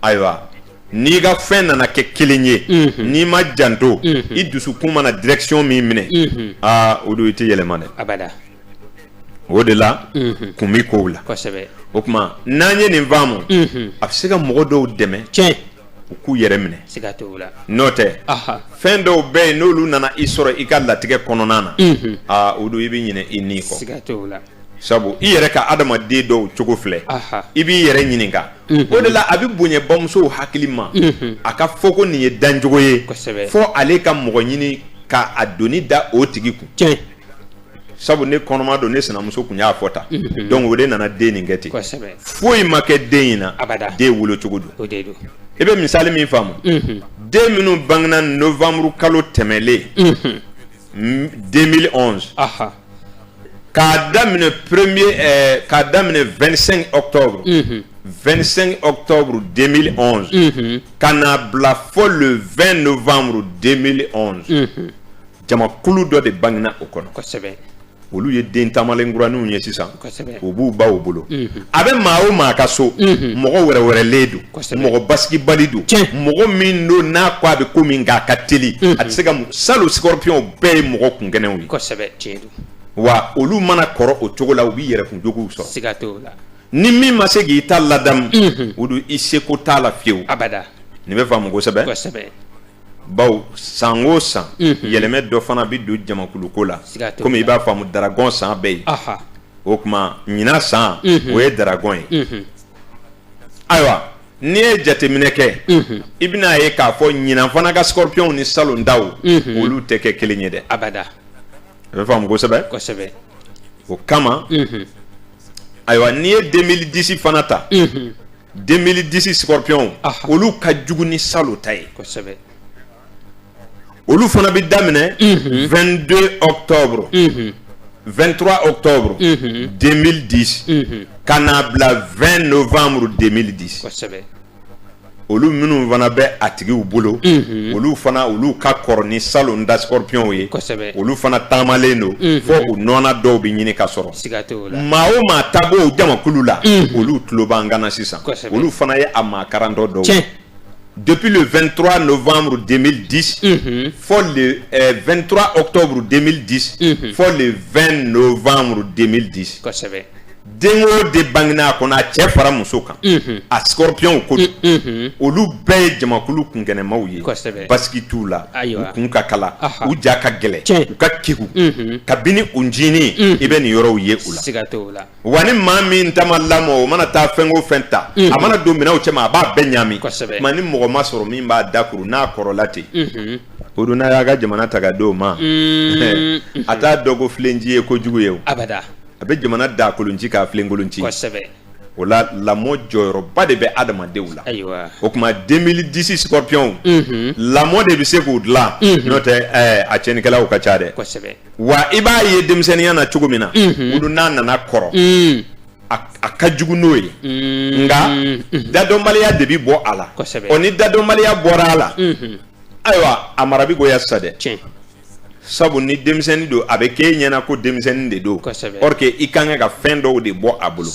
ayiwa n'i ka fɛn nana kɛ kelen ye n'i ma janto i dusukun mana direction min minɛ aa o don i tɛ yɛlɛma dɛ o de la kun bɛ kow la o tuma n'an ye nin faamu a bɛ se ka mɔgɔ dɔw dɛmɛ u k'u yɛrɛ minɛ n'o tɛ fɛn dɔw bɛ yen n'olu nana i sɔrɔ i ka latigɛ kɔnɔna na aa o don i bɛ ɲinɛ i ni kɔ sabu i yɛrɛ ka adamaden dɔw cogo filɛ i b'i yɛrɛ ɲininka o de la a bɛ bonya bamusow hakili ma a ka fɔ ko nin ye dancogo ye fɔ ale ka mɔgɔ ɲini k'a doni da o tigi kun sabu ne kɔnɔma don ne sinamuso tun y'a fɔ tan mhm. donc o de nana den nin kɛ ten foyi ma kɛ den in na den wolo cogo don i bɛ misali min faamu mhm. den minnu bangena novembre kalo tɛmɛlen 2011 mhm. k'a daminɛ premier eh, k'a daminɛ 25 octobre 25 octobre 2011 ka n'a bila fo le 20 novembre 2011 jamakulu dɔ de bangena o kɔnɔ kosɛbɛ olu ye den taamalen kuraniw ye sisan u b'u baw bolo mhm. a bɛ maa o maa ka so mhm. mɔgɔ wɛrɛwɛrɛlen don mɔgɔ basigibali don mɔgɔ min don n'a ko a bɛ ko min k'a ka teli mhm. a tɛ se ka salon scorpionw bɛɛ ye mɔgɔ kunkɛnɛw ye wa olu mana kɔrɔ o cogo la u bɛ yɛrɛkun jogow sɔrɔ ni min ma se k'i ta ladamu o don i seko t'a la fiyewu nin bɛ faamu kosɛbɛ bawo san o san yɛlɛmɛ dɔ fana bɛ don jamakuluko la kɔmi i b'a faamu dragon san bɛ yen o tuma ɲinan san o ye dragon ye ayiwa n'i ye jateminɛ kɛ i bɛn'a ye k'a fɔ ɲinan fana ka scorpionw ni salon taw olu tɛ kɛ kelen ye dɛ a bɛ faamu kosɛbɛ o kama ayiwa n'i ye 2010 fana ta denmb disi sɔrɔpyɔn olu ka jugu ni sa ta ye olu fana bɛ daminɛ vdo tɔwb vtura o tɔwb denb di ka n'a bila vɛn don fanmuru denb di olu minnu fana bɛ a tigi u bolo olu fana olu ka kɔrɔn ni sa da sɔrɔpyɔnw ye olu fana taamalen don fɔ u nɔɔnɔ dɔw bɛ ɲini ka sɔrɔ maa o maa ta b'o jamakulu la olu tulo b'an kan na sisan olu fana ye a maa karantɔ dɔw depuis le 23 novembre 2010 fo le 23 euh, octobre 2010 fo le 20 novembre 2010 den o den bangena a kɔnɔ a cɛ fara muso kan a scorpion ko olu bɛɛ ye jamakulu kunkɛnɛmaw ye basigi t'u la u kun ka kalan u ja ka gɛlɛn u ka kegu kabini u ncinin i bɛ nin yɔrɔw ye u la wa ni maa min ta ma lamɔ o mana taa fɛn o fɛn ta a mana don minɛnw cɛma a b'a bɛɛ ɲami ma ni mɔgɔ ma sɔrɔ min b'a dakuru n'a kɔrɔla ten o don n'a y'a ka jamana ta k'a d'o ma a t'a dɔn ko filenci ye kojugu ye a bɛ jamana dakolonci k'a filenkolonci o la lamɔ jɔyɔrɔba de bɛ adamadenw la o tuma 2010 scorpion lamɔ de bɛ se k'u dilan n'o tɛ a cɛnnikɛlaw ka ca dɛ wa i b'a ye denmisɛnninya na cogo min na olu n'a nana kɔrɔ a ka jugu n'o ye nka dadɔnbaliya de bɛ bɔ a la o ni dadɔnbaliya bɔra a la ayiwa a mara bɛ goya sisan dɛ sabu ni denmisɛnnin don a bɛ k'e ɲɛna ko denmisɛnnin de don or que i ka kan ka fɛn dɔw de bɔ a bolo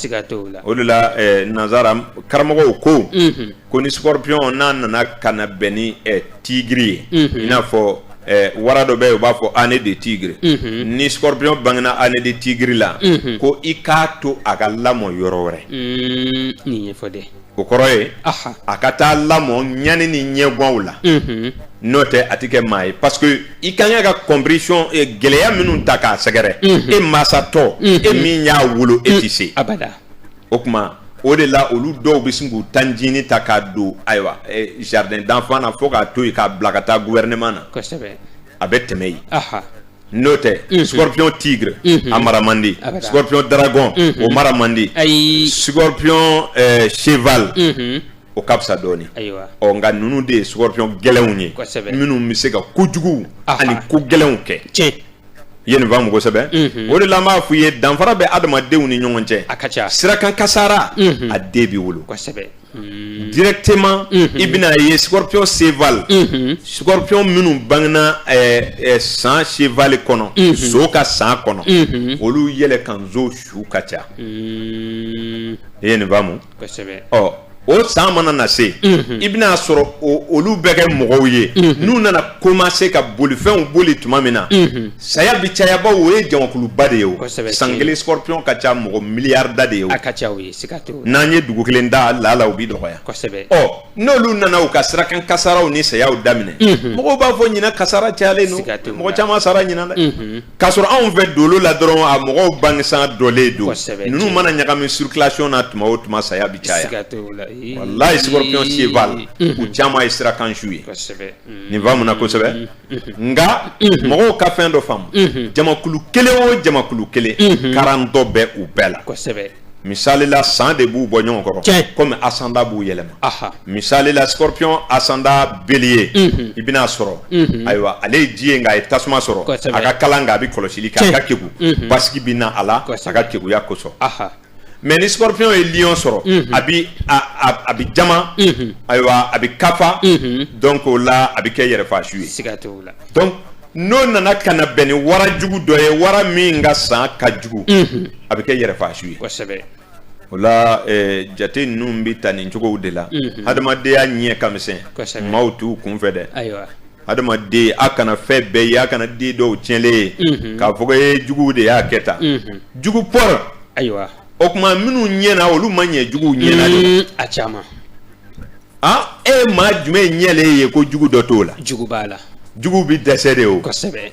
o de la eh, nanzara karamɔgɔw ko mhm. ko ni scorpion n'a nana ka na bɛn ni eh, tigre ye mhm. i n'a fɔ eh, wara dɔ bɛ yen u b'a fɔ année de tigre mhm. ni scorpion bangena année de tigre la ko i k'a to a ka lamɔ yɔrɔ wɛrɛ mm, o kɔrɔ ye a ka taa lamɔ ɲani ni ɲɛgwanw la n'o tɛ a tɛ kɛ maa ye parce que i ka kan ka compréhension eh, gɛlɛya minnu ta k'a sɛgɛrɛ e masatɔ e min y'a wolo e tɛ se o tuma o de la olu dɔw bɛ sin k'u ta ncinin ta k'a don ayiwa eh, jardin d'enfant na fo k'a to yen k'a bila ka taa gouvernement na a bɛ tɛmɛ yen. n'o tɛ scorpion tigre a mara man di scorpion dragon o mara man di scorpion eh, cheval o ka fisa dɔɔnin ɔ nka ninnu de ye scorpion gɛlɛnw ye minnu bɛ se ka kojuguw ani ko gɛlɛnw kɛ i ye nin faamu kosɛbɛ mhm. o de la an b'a f'u ye danfara bɛ adamadenw ni ɲɔgɔn cɛ a ka ca sirakan kasara mhm. a den b'i wolo kosɛbɛ Hmm. directement hmm. i bɛn'a ye scorpion cheval hmm. scorpion minnu bangena eh, eh, san cheval kɔnɔ so ka san kɔnɔ olu yɛlɛ kan zo su ka ca i ye nin faamu ɔ o san mana na se i bɛn'a sɔrɔ olu bɛ kɛ mɔgɔw ye n'u nana commencer ka bolifɛnw boli tuma min na saya bi caya bawo o ye jamakuluba de ye o san kelen scorpion ka ca mɔgɔ miliyarida de ye o n'an ye dugu kelen ta lala u bɛ dɔgɔya n'olu nana u ka sirakan kasaraw ni sayaw daminɛ mɔgɔw b'a fɔ ɲinan kasara cayalen mɔgɔ caman sara ɲinan dɛ k'a sɔrɔ anw fɛ dolo la dɔrɔn a mɔgɔw bangesan dɔlen don ninnu mana ɲagami circulation na tuma o tuma saya bi caya walayi scorpion cheval u caman ye sirakansu ye nin faamuna kosɛbɛ nka mɔgɔw ka fɛn dɔ faamu jamakulu kelen o jamakulu kelen karatɔ bɛ u bɛɛ la misali la san de b'u bɔ ɲɔgɔn kɔrɔ tiɲɛ comme ascendant b'u yɛlɛma aha misali la scorpion ascendant bélier Mhm. i bɛna sɔrɔ Mhm. ayiwa ale ye ji ye nka a ye tasuma sɔrɔ Kosɛbɛ. a ka kalan nka a bɛ kɔlɔsili kɛ a ka Tiɲɛ. kegu Mhm. basigi bɛ na a la a Kosɛbɛ. ka keguya kosɔn aha mais ni scorpion ye lion sɔrɔ Mhm. a bi a a- a bi jama Mhm. ayiwa a bi kafa Mhm. donc o la a bi kɛ yɛrɛfaasu ye siga t'o la donc n'o nana ka na bɛn ni wara jugu dɔ ye wara min ka san ka jugu a bɛ kɛ yɛrɛfaasu ye kosɛbɛ o la jate ninnu bɛ ta nin cogow de la adamadenya ɲɛ ka misɛn maaw t'u kun fɛ dɛ ayiwa adamaden a kana fɛn bɛɛ ye a kana den dɔw tiɲɛlen ye k'a fɔ ko juguw de y'a kɛ tan jugu pɔrɔ ayiwa o tuma minnu ɲɛna olu ma ɲɛ jugu ɲɛ na de a caman e ye maa jumɛn ɲɛlen ye ko jugu dɔ t'o la jugu b'a la jugu bɛ dɛsɛ de o kosɛbɛ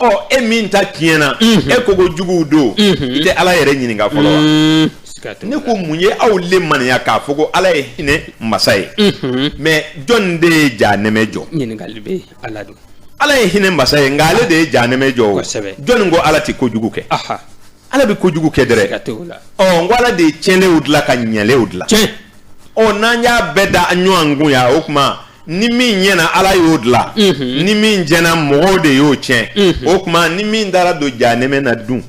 ɔ e min ta tiɲɛna e ko ko juguw don i tɛ ala yɛrɛ ɲininka fɔlɔ wa mm. ne ko mun ye aw limaniya k'a fɔ ko ala ye hinɛ masa ye mm-hmm. mais jɔn de ye jahanɛmɛ jɔ ɲininkali bɛ ala don ala ye hinɛ masa ye nka ale de ye jahanɛmɛ jɔ o jɔn ko ala tɛ kojugu kɛ ala bɛ kojugu kɛ dɛrɛ n ko ala de ye tiɲɛlenw dilan ka ɲɛlenw dilan ɔ n'an y'a bɛɛ da ɲɔgɔn kun yan o tuma ni min ɲɛna ala y'o dilan ni min tiɲɛna mɔgɔw de y'o tiɲɛ o tuma ni min taara don jahanɛmɛ na dun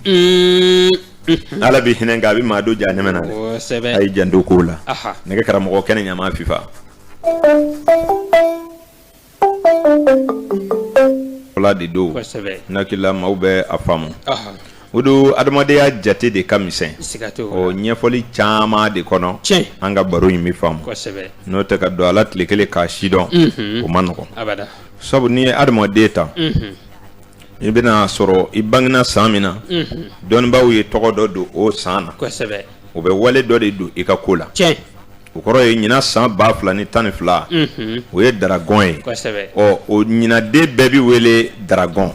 ala bɛ hinɛ a bɛ maa don jahanɛmɛ na a ye janto ko la nɛgɛ karamɔgɔ kɛnɛ ɲama fifa Ala de don n'hakilimaw bɛ a faamu o dun adamadenya jate de ka misɛn o ɲɛfɔli caman de kɔnɔ an ka baro in bɛ faamu n'o tɛ ka don a la tile kelen k'a sidɔn o man nɔgɔ sabu n'i ye adamaden ta i bɛna sɔrɔ i bangena san min na dɔnnibaaw ye tɔgɔ dɔ don o san na o bɛ wale dɔ de don i ka ko la cɛ o kɔrɔ ye ɲinan san ba fila ni tan ni fila o ye daragɔn ye ɔ o ɲinanden bɛɛ bɛ wele daragɔn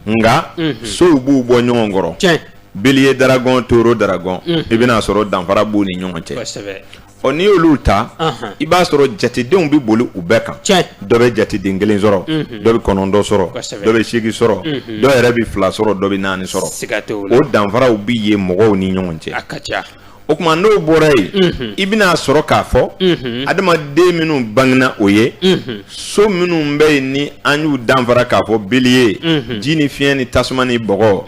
nka sow b'u bɔ ɲɔgɔn kɔrɔ cɛ bélier daragɔn taureau daragɔn i bɛn'a sɔrɔ danfara b'u ni ɲɔgɔn cɛ ɔ n'i y'olu ta i b'a sɔrɔ jatedenw bɛ boli u bɛɛ kan dɔ bɛ jateden kelen sɔrɔ dɔ bɛ kɔnɔntɔn sɔrɔ dɔ bɛ seegin sɔrɔ dɔ yɛrɛ bɛ fila sɔrɔ dɔ bɛ naani sɔrɔ o danfaraw bɛ ye mɔgɔw ni ɲɔgɔn cɛ a ka ca o tuma n'o bɔra yen i bɛna sɔrɔ k'a fɔ adamaden minnu bangena o ye so minnu bɛ yen ni an y'u danfara k'a fɔ bélier ji ni fiɲɛ ni tasuma ni bɔgɔ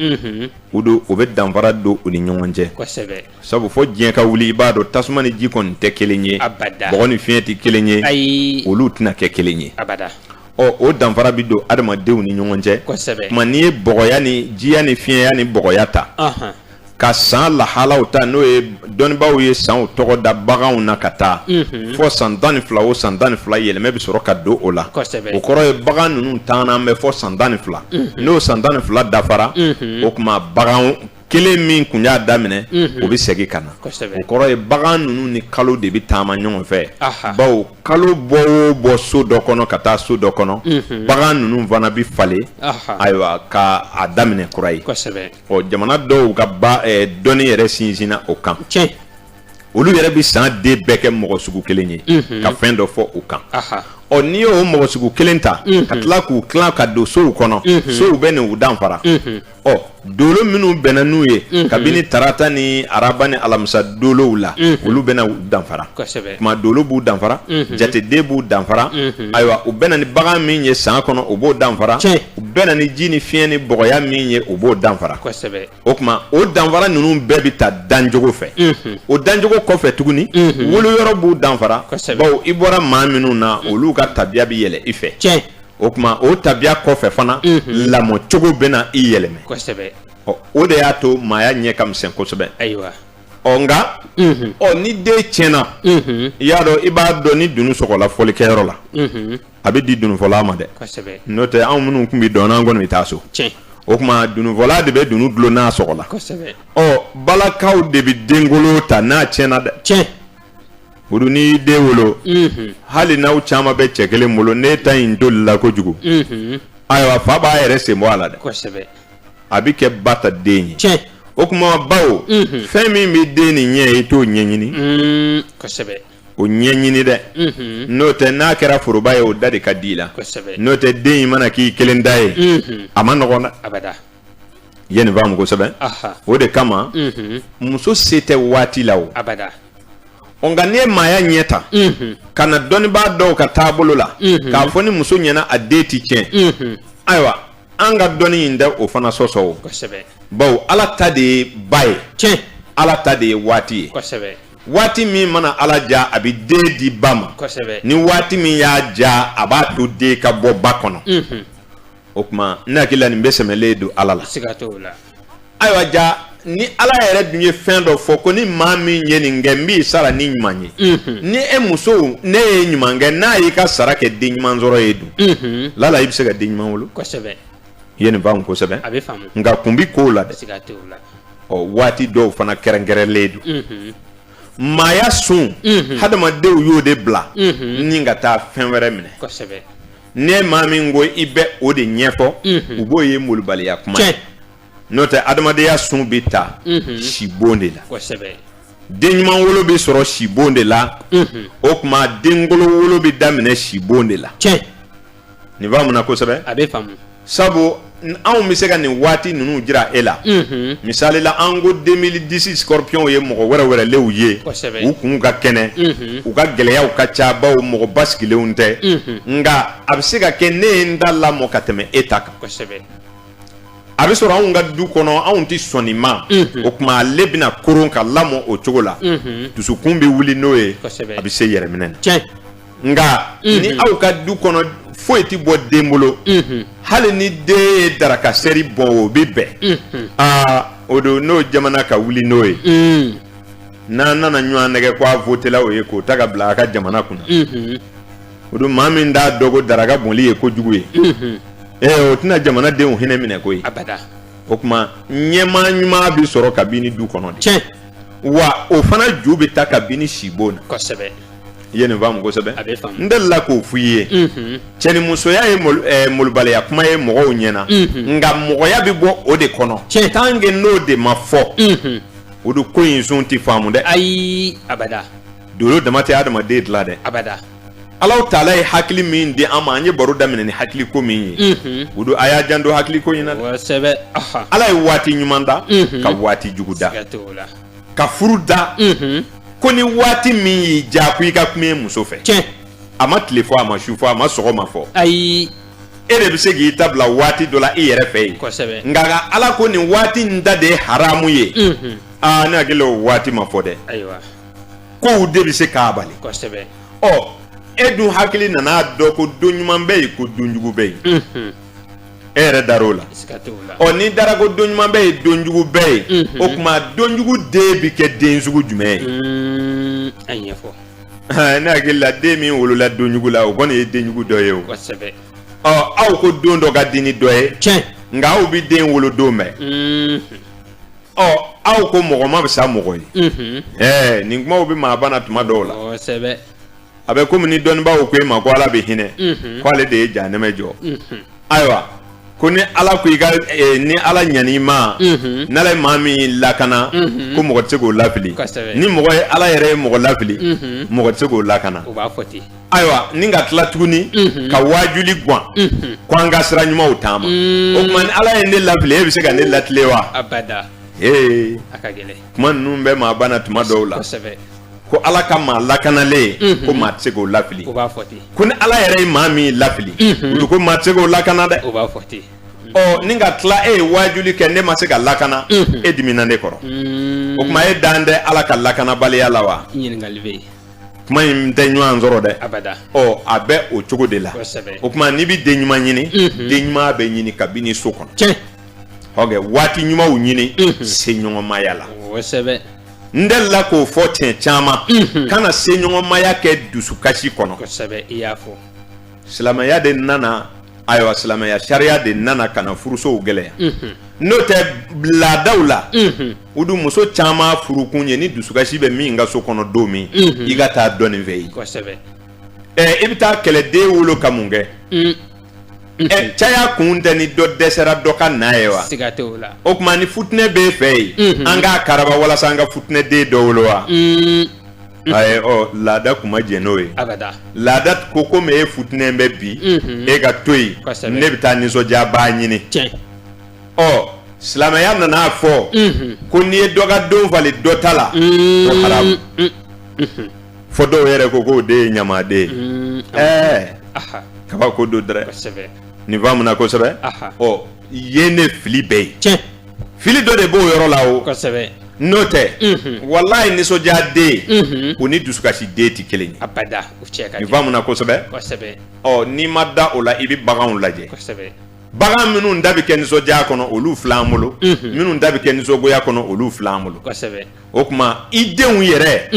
o don o bɛ danfara don u ni ɲɔgɔn cɛ sabu fɔ diɲɛ ka wuli i b'a dɔn tasuma ni ji kɔni tɛ kelen ye bɔgɔ ni fiɲɛ tɛ kelen ye olu tɛna kɛ kelen ye ɔ o danfara bɛ don adamadenw ni ɲɔgɔn cɛ tuma n'i ye bɔgɔya ni jiya ni fiɲɛya ni bɔgɔya ta ka san lahalaw ta n'o ye dɔnnibaaw ye sanw tɔgɔ da baganw na ka taa fɔ san tan ni fila o san tan ni fila yɛlɛmɛ bɛ sɔrɔ ka don o la o kɔrɔ ye bagan ninnu taalen bɛ fɔ san tan ni fila n'o san tan ni fila dafara o tuma bagan kelen min tun y'a daminɛ o bɛ segin ka na o kɔrɔ ye bagan ninnu ni kalo de bɛ taama ɲɔgɔn fɛ bawo kalo bɔ o bɔ so dɔ kɔnɔ ka taa so dɔ kɔnɔ bagan ninnu fana bɛ falen ayiwa ka a daminɛ kura ye ɔ jamana dɔw ka dɔnni yɛrɛ sinsinna o kan olu yɛrɛ bɛ san den bɛɛ kɛ mɔgɔ sugu kelen ye ka fɛn dɔ fɔ u kan ɔ n'i y'o mɔgɔ sugu kelen ta ka tila k'u tila ka don sow kɔnɔ sow bɛ n'u danfara ɔ dolo minnu bɛnna n'u ye mhm. kabini tarata ni araba ni alamisa dolow la mhm. olu bɛna u danfara tuma dolo b'u danfara mhm. jateden b'u danfara ayiwa u bɛnna ni bagan min ye san kɔnɔ o b'o danfara u bɛnna ni ji ni fiɲɛ ni bɔgɔya min ye o b'o danfara o tuma o danfara ninnu bɛɛ bɛ taa dancogo fɛ o dancogo kɔfɛ tuguni woloyɔrɔ b'u danfara bawo i bɔra maa minnu na olu ka tabiya bɛ yɛlɛ i fɛ o tuma o tabiya kɔfɛ fana lamɔcogo bɛna i yɛlɛma kosɛbɛ o de y'a to maaya ɲɛ ka misɛn kosɛbɛ ayiwa ɔ nka ɔ ni den tiɲɛna i y'a dɔn i b'a dɔn ni dunun sɔgɔla fɔlikɛyɔrɔ la a bɛ di dununfɔla ma dɛ n'o tɛ anw minnu tun bɛ dɔn an kɔni bɛ taa so o tuma dununfɔla de bɛ dunun dulon n'a sɔgɔla ɔ balakaw de bɛ denkolon ta n'a tiɲɛna dɛ tiɲɛ olu n'i y'i den wolo hali n'aw caman bɛ cɛ kelen bolo n'e ta in tolila kojugu ayiwa fa b'a yɛrɛ sen bɔ a la dɛ a bɛ kɛ ba ta den ye o tuma bawo fɛn min bɛ den nin ɲɛ i t'o ɲɛɲini o ɲɛɲini dɛ n'o tɛ n'a kɛra foroba ye o da de ka di i la n'o tɛ den in mana k'i kelen ta ye a man nɔgɔ na ye nin faamu kosɛbɛ o de kama mhm. muso se tɛ waati la o nka n'i ye maaya ɲɛ ta mhm. ka na dɔnnibaa dɔw ka taabolo la mhm. k'a fɔ ni muso ɲɛna a den ti tiɲɛ ayiwa an ka dɔnni in tɛ o fana sɔsɔ o bawo ala ta de ye ba ye tiɲɛ ala ta de ye waati ye waati min mana ala ja a bɛ den di ba ma ni waati min y'a ja a b'a to den ka bɔ ba kɔnɔ o tuma ne hakili la nin bɛɛ sɛmɛlen don ala la siga t'o la ayiwa ja ni ala yɛrɛ dun ye fɛn dɔ fɔ ko ni maa min ye nin kɛ n b'i sara ni ɲuman ye Mhm. ni e muso ne ye ɲuman kɛ n'a y'i ka sara kɛ den ɲuman sɔrɔ ye dun Mhm. lala i bɛ se ka den ɲuman wolo kosɛbɛ i ye nin faamu kosɛbɛ a bɛ faamu nka kun bi kow la dɛ siga t'o la ɔ waati dɔw fana kɛrɛnkɛrɛnlen don Mhm. maaya sun Mhm. hadamadenw y'o de bila Mhm. ni ka taa fɛn wɛrɛ minɛ kosɛbɛ ne maa min ko i bɛ o de ɲɛfɔ u b'o ye malobaliya kuma n'o tɛ adamadenya sun bɛ ta sibon de la den ɲuman wolo bɛ sɔrɔ sibon de la o tuma den kolon wolo bɛ daminɛ sibon de la nin faamuna kosɛbɛ a bɛ sabu anw bɛ se ka nin waati ninnu jira e la misalila an ko deux mille dix scorpion ye mɔgɔ wɛrɛwɛrɛlenw ye u kun ka kɛnɛ u ka gɛlɛyaw ka ca bawo mɔgɔ basigilenw tɛ nka a bɛ se ka kɛ ne ye n ta lamɔ ka tɛmɛ e ta kan a bɛ sɔrɔ anw ka du kɔnɔ anw tɛ sɔn nin ma o tuma ale bɛna koron ka lamɔ o cogo la dusukun bɛ wuli n'o ye a bɛ se yɛrɛminɛ nka ni aw ka du kɔnɔ foyi tɛ bɔ den bolo hali ni den ye daraka seri bɔn o bɛ bɛn aa o don n'o jamana ka wuli n'o ye n'an nana ɲɔgɔn nɛgɛn ko a votela o ye k'o ta ka bila a ka jamana kunna o don maa min t'a dɔn ko daraka bɔnli ye kojugu ye o tɛna jamana denw hinɛ minɛ koyi o tuma ɲɛmaa ɲuman bɛ sɔrɔ kabini du kɔnɔ de wa o fana ju bɛ ta kabini sibon na kosɛbɛ i ye nin faamu kosɛbɛ a bɛ faamu n delila k'o f'i ye cɛnimusoya ye malobaliya kuma ye mɔgɔw ɲɛ na nka mɔgɔya bɛ bɔ o de kɔnɔ cɛ tant que n'o de ma fɔ o don ko in sun tɛ faamu dɛ ayi abada dolo dama tɛ hadamaden dilan dɛ abada Ala taala ye hakili min di an ma an ye baro daminɛ ni hakiliko min ye o don a y'a janto hakiliko in na ala ye waati ɲuman da ka waati jugu da ka furu da ko ni waati min y'i ja ko i ka kuma i muso fɛ cɛ a ma tile fɔ a ma su fɔ a ma sɔgɔma fɔ ayi e de bɛ se k'i ta bila waati dɔ la i yɛrɛ fɛ yen nka ka ala ko nin waati in da de ye haramu ye aa ne hakili o waati ma fɔ dɛ kow de bɛ se k'a bali kosɛbɛ ɔ e dun hakili nana dɔn ko don ɲuman bɛ yen ko don jugu bɛ yen e yɛrɛ dar'o la ɔ n'i dara ko don ɲuman bɛ yen don jugu bɛ yen o tuma don jugu den bɛ kɛ den sugu jumɛn ye a ɲɛfɔ ne hakili la den min wolola don jugu la o kɔni ye den jugu dɔ ye o kosɛbɛ ɔ aw ko don dɔ ka di ni dɔ ye tiɲɛ nka aw bɛ den wolo don bɛɛ ɔ aw ko mɔgɔ man fisa mɔgɔ ye ɛɛ nin kumaw bɛ maa bana tuma dɔw la a bɛ komi ni dɔnnibaaw ko e ma ko ala bɛ hinɛ ko ale de ye janɛmɛ jɔ ayiwa ko ni ala ko i ka eh, ni ala ɲan'i ma mhm. n'ala ye maa min lakana mhm. ko mɔgɔ tɛ se k'o lafili ni mɔgɔ ye ala yɛrɛ ye mɔgɔ lafili mhm. mɔgɔ tɛ se k'o lakana ayiwa ni ka tila tuguni ka wajuli gan ko an ka sira ɲumanw taama o tuma ni ala ye ne lafili e bɛ se ka ne latilen wa ee kuma ninnu bɛ maa bana tuma dɔw la ko ala ka maa lakanalen ko maa tɛ se k'o lafili ko ni ala yɛrɛ ye maa min lafili olu ko maa tɛ se k'o lakana dɛ ɔ ni ka tila e ye wajuli kɛ ne ma se ka lakana e dimina ne kɔrɔ o tuma e dan tɛ ala ka lakanabaliya la wa kuma in tɛ ɲɔgɔn sɔrɔ dɛ ɔ a bɛ o cogo de la o tuma n'i bɛ den ɲuman ɲini mhm. den ɲuman bɛ ɲini kabini so kɔnɔ ɔkɛ waati ɲumanw ɲini mhm. seɲɔgɔnmaya la n delila k'o fɔ siɲɛ caman mhm. kana seɲɔgɔnmaya kɛ dusukasi kɔnɔ silamɛya de nana ayiwa silamɛya sariya de nana ka na furusow gɛlɛya n'o tɛ laadaw la u dun muso caman furukun ye ni dusukasi bɛ min ka so kɔnɔ don min i ka taa dɔ nin fɛ yen ɛ i bɛ taa kɛlɛden wolo ka mun kɛ ɛ caya kun tɛ ni dɔ dɛsɛra dɔ ka na ye wa o tuma ni futinɛ b'e fɛ yen an k'a karaba walasa an ka futinɛden dɔ wolo wa ayi ɔ laada tun ma jɛn n'o ye abada laada ko komi e futinɛn bɛ bi mhm. e ka to yen ne bɛ taa nisɔndiyabaa ɲini tiɲɛ ɔ silamɛya nana a fɔ mhm. ko n'i ye dɔ ka don falen dɔ ta la mhm. o haramu fɔ dɔw yɛrɛ ko k'o de ye ɲamaden ye ɛɛ kabako don dɛrɛ nin faamuna kosɛbɛ ɔ ye ne fili bɛɛ ye tiɲɛ fili dɔ de b'o yɔrɔ la o kosɛbɛ n'o tɛ walayi nisɔndiya den o ni dusukasi den tɛ kelen ye abada o cɛ ka nin faamuna kosɛbɛ kosɛbɛ ɔ n'i ma da o la i bɛ baganw lajɛ kosɛbɛ bagan minnu da bɛ kɛ nisɔndiya kɔnɔ olu fil'an bolo minnu da bɛ kɛ nisɔngoya kɔnɔ olu fil'an bolo kosɛbɛ o tuma i denw yɛrɛ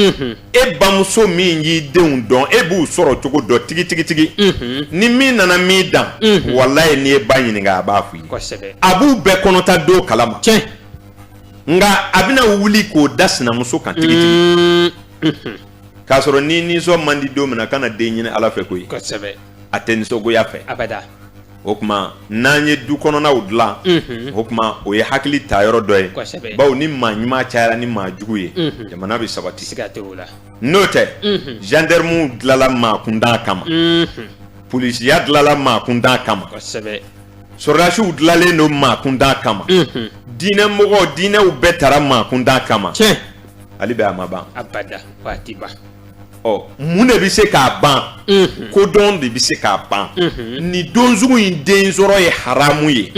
e bamuso min y'i denw dɔn e b'u sɔrɔ cogo dɔn tigitigitigi ni min nana min dan walayi n'i ye ba ɲininka a b'a f'i ye a b'u bɛɛ kɔnɔta don kalama cɛ nka a bɛna wuli k'o da sinamuso kan tigitigi k'a sɔrɔ ni nisɔn man di don min na kana den ɲini ala fɛ koyi a tɛ nisɔngoya fɛ o tuma n'an ye du kɔnɔnaw dilan o tuma o ye hakili ta yɔrɔ dɔ ye baw ni maa ɲuman cayara ni maa jugu ye jamana bɛ sabati n'o tɛ gendarmew dilanla maa kuntan kama polisiya dilanla maa kuntan kama sɔrɔdasiw dilanlen don maa kuntan kama diinɛmɔgɔw diinɛw bɛɛ tara maa kuntan kama hali bi a ma ban ɔ mun de bɛ se k'a ban kodɔn de bɛ se k'a ban nin don sugu in den sɔrɔ ye haramu ye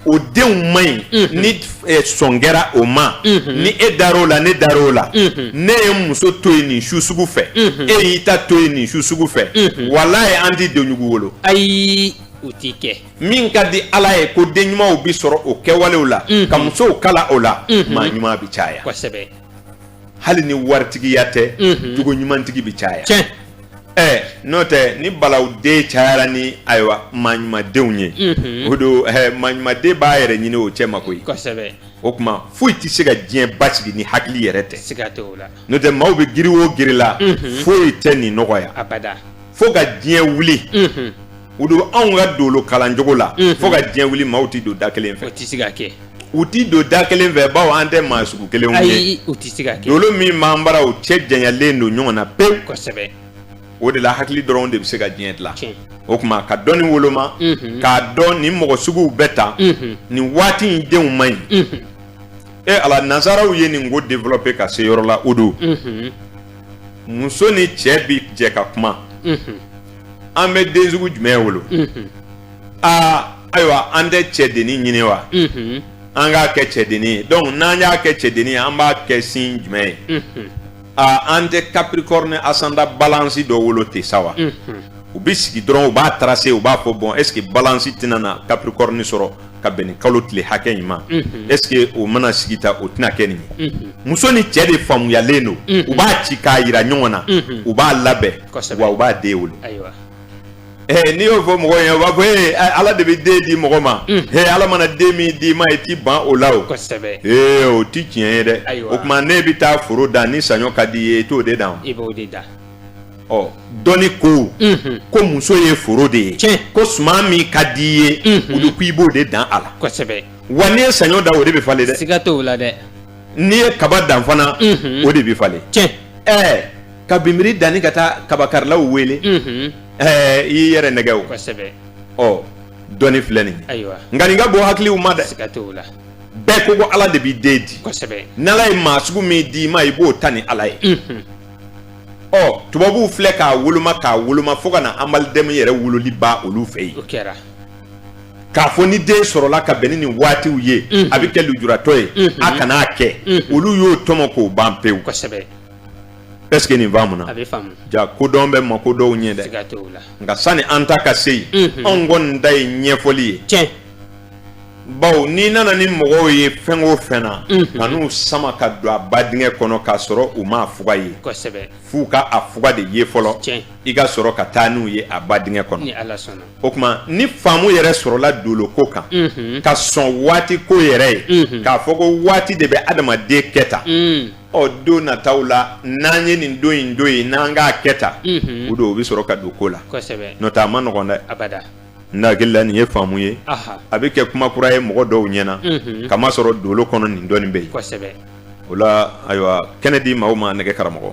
o denw man ɲi ni sɔn kɛra o ma ni e dar'o la ne dar'o la ne ye n muso to yen nin su sugu fɛ e y'i ta to yen nin su sugu fɛ walayi an tɛ denjugu wolo ayi o tɛ kɛ min ka di ala ye ko den ɲumanw bɛ sɔrɔ o kɛwalew la ka musow kalan o la maa ɲuman bɛ caya hali ni waritigiya tɛ jogo ɲumantigi bɛ caya ɛɛ n'o tɛ ni balawu den cayara ni ayiwa maa ɲumandenw ye o don maa ɲumanden b'a yɛrɛ ɲini o cɛ ma koyi o tuma foyi tɛ se ka diɲɛ basigi ni hakili yɛrɛ tɛ n'o tɛ maaw bɛ giri o giri la foyi tɛ nin nɔgɔya fo ka diɲɛ wuli o don anw ka dolo kalancogo la fo ka diɲɛ wuli maaw tɛ don da kelen fɛ U tɛ don da kelen fɛ baw an tɛ maa sugu kelenw ye dolo min b'an bara u cɛ janyalen don ɲɔgɔn na pewu o de la hakili dɔrɔn de bɛ se ka diɲɛ dilan o tuma ka dɔnni woloma k'a dɔn nin mɔgɔ suguw bɛɛ ta nin waati in denw man ɲi e ala nansaraw ye nin ko développer ka se yɔrɔ la o don muso ni cɛ bɛ jɛ ka kuma an bɛ den sugu jumɛn wolo aa ayiwa an tɛ cɛdennin ɲini wa an k'a kɛ cɛdennin ye donc n'an y'a kɛ cɛdennin ye an b'a kɛ signe jumɛn ye aa an tɛ capricorne ascendant balance dɔ wolo ten sa wa u bɛ sigi dɔrɔn u b'a tracer u b'a fɔ bon est ce que balance tɛna na capricorne sɔrɔ ka bɛn ni kalo tile hakɛ in ma est ce que o mana sigi ta o tɛna kɛ nin ye muso ni cɛ de faamuyalen don u b'a ci k'a yira ɲɔgɔn na u b'a labɛn wa u b'a den wolo Ɛɛ n'i y'o fɔ mɔgɔ ye, o b'a fɔ ee Ala de bɛ den di mɔgɔ ma, unhun, ee Ala mana den min d'i ma, i t'i ban o la o, kosɛbɛ, ee o tɛ tiɲɛ ye dɛ, ayiwa, o tuma ne bɛ taa foro dan ni saɲɔ ka d'i ye, i t'o de dan wa? I b'o de dan. Ɔ dɔnni ko, unhun, ko muso ye foro de ye, tiɲɛ, ko suman min ka d'i ye, unhun, olu k'i b'o de dan a la, kosɛbɛ, wa n'i ye saɲɔ dan o de bɛ falen dɛ, siga t'o la dɛ, n'i ye kaba dan fana, unhun, o de bɛ falen, tiɲɛ, ɛɛ ka bimbiri dan i ka taa kabakarilaw wele i yɛrɛ nɛgɛ o dɔnni filɛ nin ye nka nin ka bɔ hakiliw ma dɛ bɛɛ ko ko ala de b'i den di n'ala ye maa sugu min d'i ma i b'o ta ni ala ye ɔ tubabuw filɛ k'a woloma k'a woloma fo ka na anba denmisɛnnin yɛrɛ wololi ba olu fɛ yen k'a fɔ ni den sɔrɔla ka bɛn ni nin waatiw ye a bɛ kɛ lujuratɔ ye a kan'a kɛ olu y'o tɔmɔ k'o ban pewu ɛseke nin faamuna ja kodɔn bɛ mako dɔw ɲɛ dɛ nka sani an ta ka se yen mhm. anw kɔni ta ye ɲɛfɔli ye tiɲɛ bawo n'i nana ni mɔgɔw ye fɛn o fɛn na mhm. kan'u sama ka don a ba dingɛ kɔnɔ k'a sɔrɔ u m'a fuga ye f'u ka a fuga de ye fɔlɔ i ka sɔrɔ ka taa n'u ye a ba dingɛ kɔnɔ o tuma ni faamu yɛrɛ sɔrɔla doloko kan mhm. ka sɔn waati ko yɛrɛ ye k'a fɔ ko waati de bɛ adamaden kɛ tan ɔ don nataw la n'an ye nin don in don yen n'an k'a kɛ tan mhm. o don o bɛ sɔrɔ ka don ko la n'o tɛ a man nɔgɔn dɛ abada n hakili la nin ye faamu ye a bɛ kɛ kuma kura ye mɔgɔ dɔw ɲɛna mhm. kamasɔrɔ dolo kɔnɔ nin dɔɔnin bɛ yen o la ayiwa kɛnɛ di maaw ma nɛgɛ karamɔgɔ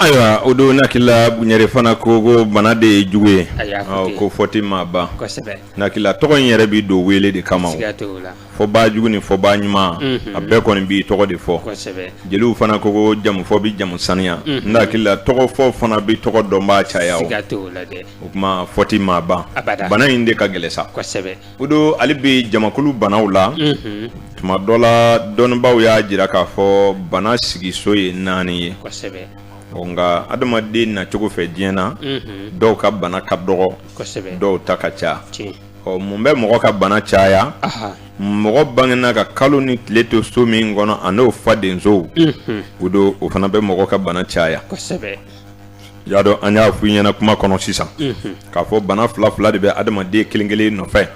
Ayiwa o don n hakilila bunyere fana ko ko bana de ye jugu ye ko fɔ tɛ maa ban n hakilila tɔgɔ in yɛrɛ bɛ don wele de kama fɔbaa jugu ni fɔbaa ɲuman a bɛɛ kɔni b'i tɔgɔ de fɔ jeliw fana ko ko jamufɔ bɛ jamu saniya n hakilila tɔgɔfɔ fana bɛ tɔgɔ dɔnbaa caya o tuma fɔ tɛ maa ban bana in de ka gɛlɛn sa O don ale bɛ jamakulu banaw la tuma dɔ la dɔnnibaw y'a jira k'a fɔ bana sigiso ye naani ye nka adamaden na cogo fɛ diɲɛ na dɔw ka bana ka dɔgɔ dɔw ta ka ca ɔ mun bɛ mɔgɔ ka bana caya mɔgɔ bangena ka kalo ni tile to so min kɔnɔ ani o fadensow o don o fana bɛ mɔgɔ ka bana caya y'a dɔn an y'a fɔ i ɲɛna kuma kɔnɔ sisan k'a fɔ bana fila fila de bɛ adamaden kelen kelen nɔfɛ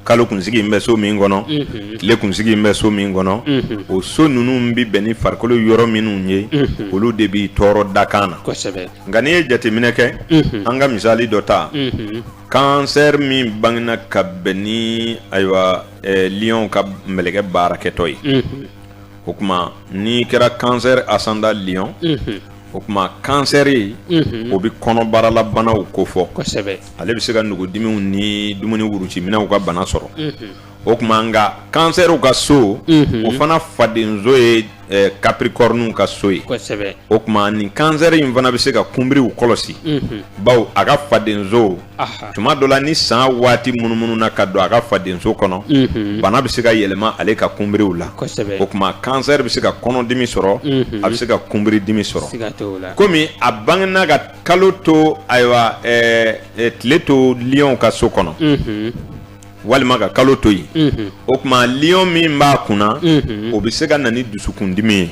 kalo kunsigi in bɛ so min kɔnɔ tile kunsigi in bɛ so min kɔnɔ o so ninnu bɛ bɛn ni farikolo yɔrɔ minnu ye olu de b'i tɔɔrɔ dakan na nka n'i ye jateminɛ kɛ an ka misali dɔ ta kansɛri min bangena ka bɛn ni ayiwa lion ka mɛlɛkɛ baarakɛtɔ ye o tuma n'i kɛra kansɛri asanda liɔn o tuma kansɛri o bɛ kɔnɔbara la banaw kofɔ kosɛbɛ ale bɛ se ka nugudimiw ni dumuni wuruji minɛnw ka bana sɔrɔ o tuma nka kansɛriw ka so o fana fadenso ye kapirikɔrɔniw ka so ye o tuma ni kansɛri in fana bɛ se ka kunbiriw kɔlɔsi bawo a ka fadenso tuma dɔ la ni san waati munumununa ka don a ka fadenso kɔnɔ bana bɛ se ka yɛlɛma ale ka kunbiriw la o tuma kansɛri bɛ se ka kɔnɔdimi sɔrɔ a bɛ se ka kunbiridimi sɔrɔ kɔmi a bangena ka kalo to ayiwa tile to liɔn ka so kɔnɔ walima ka kalo to yen o tuma liɔn min b'a kunna o bɛ se ka na ni dusukundimi ye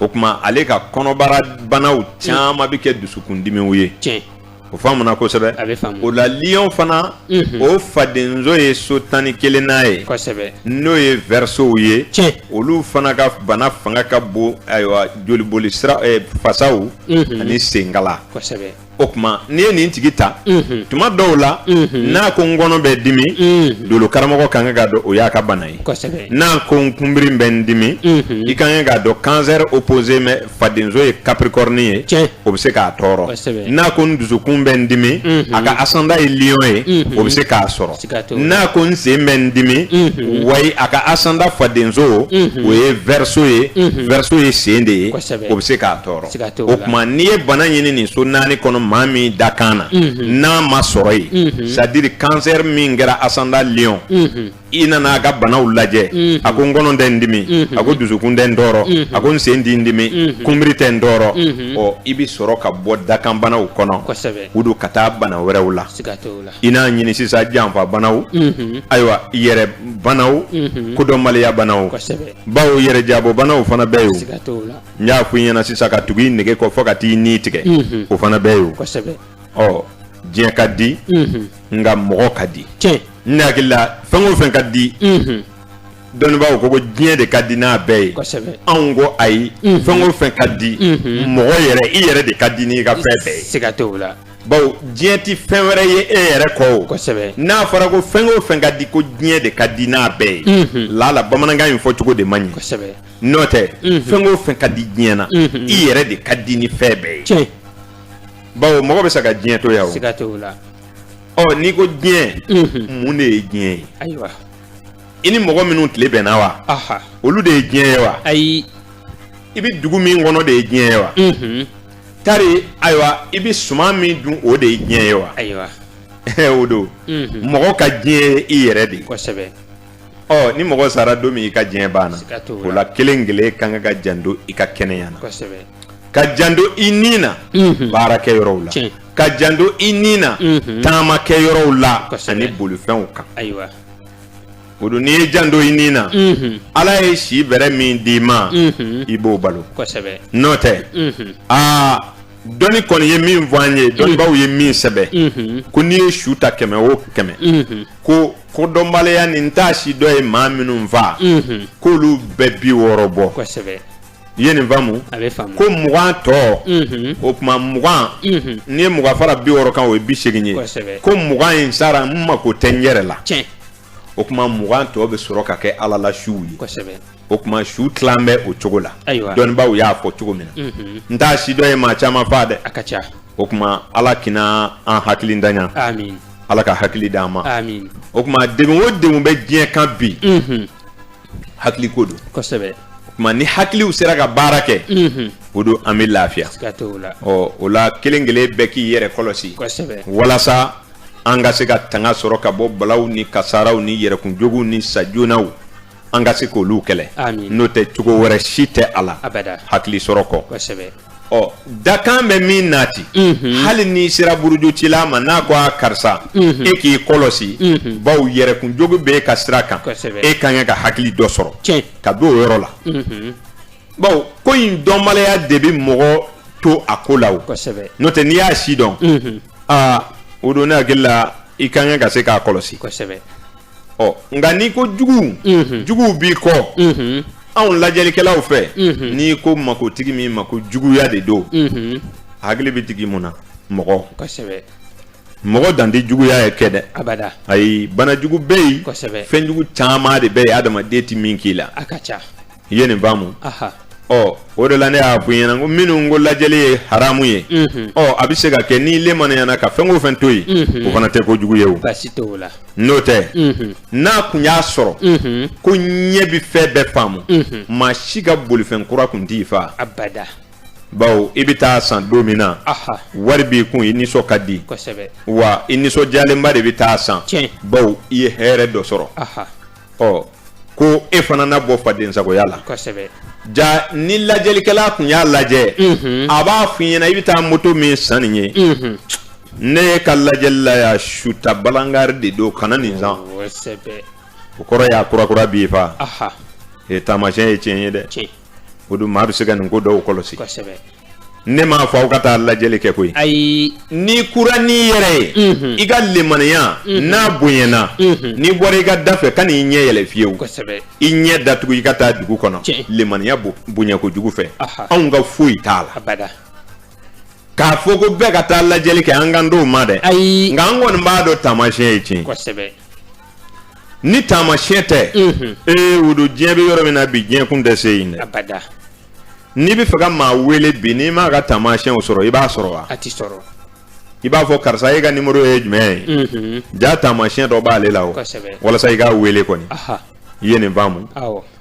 o tuma ale ka kɔnɔbara banaw caman bɛ kɛ dusukundimiw ye o faamuna kosɛbɛ o la liɔn fana mhm. o fadenzo ye so tan ni kelennan ye n'o ye vɛrisow ye olu fana ka bana fanga ka bon ayiwa joliboli sira eh, fasaw mhm. ani senkala o tuma n'i ye nin tigi ta mhm. tuma dɔw la mhm. n'a ko n kɔnɔ bɛ dimi mhm. dolo karamɔgɔ ka kan k'a dɔn o y'a ka bana ye n'a ko n kunbiri bɛ n dimi i ka kan k'a dɔn kansɛri opposé mɛ fadenso ye kapirikɔrɔni ye Tiɲɛ. o bɛ se k'a tɔɔrɔ Kosɛbɛ. n'a ko n dusukun bɛ n dimi Mhm. a ka asanda ye liyɔn ye Mhm. o bɛ se k'a sɔrɔ Sika t'o la. n'a ko n sen bɛ n dimi Mhm. wayi a ka asanda fadenso Mhm. o ye vɛriso ye Mhm. vɛriso ye sen de ye Kosɛbɛ. o bɛ se k'a tɔɔrɔ Sika t'o la. o tuma n'i ye bana ɲini nin so naani kɔnɔ maa min dakan na Mhm. n'a ma sɔrɔ yen Mhm. c'est-à-dire kansɛri min kɛra asanda liyɔn Mhm. i nana a ka banaw lajɛ mm-hmm. a ko n kɔnɔ tɛ n dimi mm-hmm. a ko dusukun tɛ n tɔɔrɔ mm-hmm. a ko n sen tɛ n dimi kunbiri tɛ n tɔɔrɔ ɔ i bɛ sɔrɔ ka bɔ dakanbanaw kɔnɔ o don ka taa bana wɛrɛw la i n'a ɲini sisan janfa banaw ayiwa yɛrɛ banaw kodɔnbaliya banaw bawo yɛrɛ jabɔ banaw fana bɛɛ y'o n y'a fɔ i ɲɛna sisan ka tugu i nege kɔ fɔ ka t'i ni tigɛ o fana bɛɛ y'o ɔ diɲɛ ka di nka mɔgɔ ka di Ne hakili la fɛn o fɛn ka di dɔnnibaaw ko ko diɲɛ de ka di n'a bɛɛ ye anw ko ayi fɛn o fɛn ka di mɔgɔ yɛrɛ i yɛrɛ de ka di n'i ka fɛn bɛɛ ye sika t'o la bawo diɲɛ tɛ fɛn wɛrɛ ye e yɛrɛ kɔ o kosɛbɛ n'a fɔra ko fɛn o fɛn ka di ko diɲɛ de ka di n'a bɛɛ ye lala bamanankan in fɔ cogo de man ɲi kosɛbɛ n'o tɛ fɛn o fɛn ka di diɲɛ na i yɛrɛ de ka di ni fɛn bɛɛ ye bawo mɔgɔ bɛ sa ka diɲɛ to yan sika t'o la ɔ n'i ko diɲɛ mun de ye diɲɛ ye ayiwa i ni mɔgɔ minnu tile bɛnna wa olu de ye diɲɛ ye wa ayi i bɛ dugu min kɔnɔ de ye diɲɛ ye wa tari ayiwa i bɛ suman min dun o de ye diɲɛ ye wa ayiwa o don mɔgɔ ka diɲɛ ye i yɛrɛ de ye kosɛbɛ Ɔ ni mɔgɔ sara don min i ka diɲɛ banna o la kelen kelen ka kan ka janto i ka kɛnɛya na ka janto i ni na baarakɛ yɔrɔw la ka janto i ni na taamakɛ yɔrɔw la ani bolifɛnw kan ayiwa o don n'i ye janto i ni na ala ye si bɛrɛ min d'i ma i b'o balo n'o tɛ aa dɔnni kɔni ye min fɔ an ye dɔnnibaaw ye min sɛbɛn ko n'i ye su ta kɛmɛ o kɛmɛ ko ko dɔnbaliya ni n t'a si dɔn ye maa minnu fa k'olu bɛɛ bi wɔɔrɔ bɔ i ye nin faamu ko mugan tɔ o tuma mugan n'i ye mugan fara bi wɔɔrɔ kan o ye bi segin ye ko mugan in sara n mako tɛ n yɛrɛ la o tuma mugan tɔ bɛ sɔrɔ ka kɛ ala la suw ye o tuma su tila bɛ o cogo la dɔnnibaw y'a fɔ cogo min na n t'a si dɔn ye maa caman faa dɛ a ka ca o tuma ala kana an hakilintanya ala ka hakili di an ma o tuma degun o degun bɛ diɲɛ kan bi hakili ko don o tuma ni hakiliw sera ka baara kɛ o don an bɛ lafiya ɔ o la kelen kelen bɛɛ k'i yɛrɛ kɔlɔsi walasa an ka se ka tanga sɔrɔ ka bɔ balaw ni kasaaraw ni yɛrɛkunjuguw ni sajoonaw an ka se k'olu kɛlɛ n'o tɛ cogo wɛrɛ si tɛ a la hakili sɔrɔ kɔ ɔ dakan bɛ min nati hali n'i sera burujucila ma n'a ko a karisa e k'i kɔlɔsi bawo yɛrɛkunjugu bɛ e ka sira kan e ka kan ka hakili dɔ sɔrɔ ka don o yɔrɔ la bawo ko in dɔnbaliya de bɛ mɔgɔ to a ko la o n'o tɛ n'i y'a si dɔn aa o don ne hakili la i ka kan ka se k'a kɔlɔsi ɔ nka n'i ko juguw juguw b'i kɔ anw lajɛlikɛlaw fɛ n'i ko makotigi min ma ko juguya de don hakili bɛ digi mun na mɔgɔ kosɛbɛ mɔgɔ dan tɛ juguya ye kɛ dɛ abada ayi bana jugu bɛ yen kosɛbɛ fɛn jugu caman de bɛ yen adamaden tɛ min k'i la a ka ca i ye nin faamu ɔ o de la ne y'a fɔ i ɲɛna ko minnu ko lajɛli ye haramu ye ɔ a bɛ se ka kɛ n'i limaniyana ka fɛn o fɛn to yen o fana tɛ ko jugu ye o n'o tɛ n'a kun y'a sɔrɔ ko ɲɛ bɛ fɛn bɛɛ faamu maa si ka bolifɛn kura kun t'i fa bawo i bɛ taa san don min na wari b'i kun i nisɔn ka di wa i nisɔndiyalenba de bɛ taa san bawo i ye hɛrɛ dɔ sɔrɔ ɔ ko e fana na bɔ fadensagoya la kosɛbɛ ja ni lajɛlikɛla tun y'a lajɛ mhm. a b'a f'i ɲɛna i bɛ taa moto min san nin ye mhm. ne ye ka lajɛli la ya suta balangari de don kana nin san o kɔrɔ y'a kurakura b'i fa e taamasiyɛn ye tiɲɛ ye dɛ o don maa bɛ se ka nin ko dɔw kɔlɔsi ne m'a fɔ aw ka taa lajɛli kɛ koyi ayi n'i kura n'i yɛrɛ ye mhm. i ka lemaniya mhm. n'a bonyana mhm. n'i bɔra i ka da fɛ kan'i ɲɛ yɛlɛ fiyewu i ɲɛ datugu i ka taa dugu kɔnɔ lemaniya bonya kojugu fɛ anw ka foyi t'a la k'a fɔ ko bɛɛ ka taa lajɛli kɛ an kan t'o ma dɛ ayi nka an kɔni b'a dɔn taamasiyɛn ye tiɲɛ ni taamasiyɛn tɛ ee o don diɲɛ bɛ yɔrɔ min na bi diɲɛ kun tɛ se yen dɛ n'i b'a fɛ ka maa wele bi n'i m'a ka taamasiɲɛw sɔrɔ i b'a sɔrɔ wa a tɛ sɔrɔ i b'a fɔ karisa e ka nimoro ye jumɛn ye mhm. ja taamasiɲɛ dɔ b'ale la o walasa i k'a wele kɔni i ye nin faamu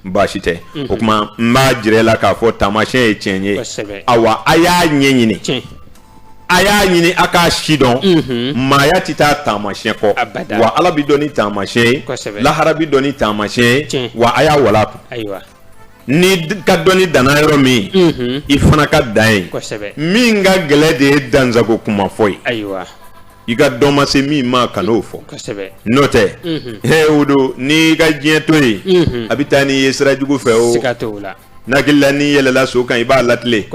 baasi tɛ mhm. o tuma n b'a jira i la k'a fɔ taamasiɲɛ ye tiɲɛ ye awa a y'a ɲɛɲini a y'a ɲini a k'a sidɔn mhm. maaya tɛ taa taamasiɲɛ kɔ wa ala bɛ dɔn ni taamasiɲɛ ye lahara bɛ dɔn ni taamasiɲɛ ye wa a y'a wala kun n'i ka dɔnni danna yɔrɔ min i fana ka dan yen min ka gɛlɛ de ye dansago kuma fɔ ye ayiwa i ka dɔn ma se min ma kan'o fɔ n'o tɛ he o don n'i ka diɲɛ to yen a bɛ taa n'i ye sira jugu fɛ o n hakili la n'i yɛlɛla so kan i b'a latilen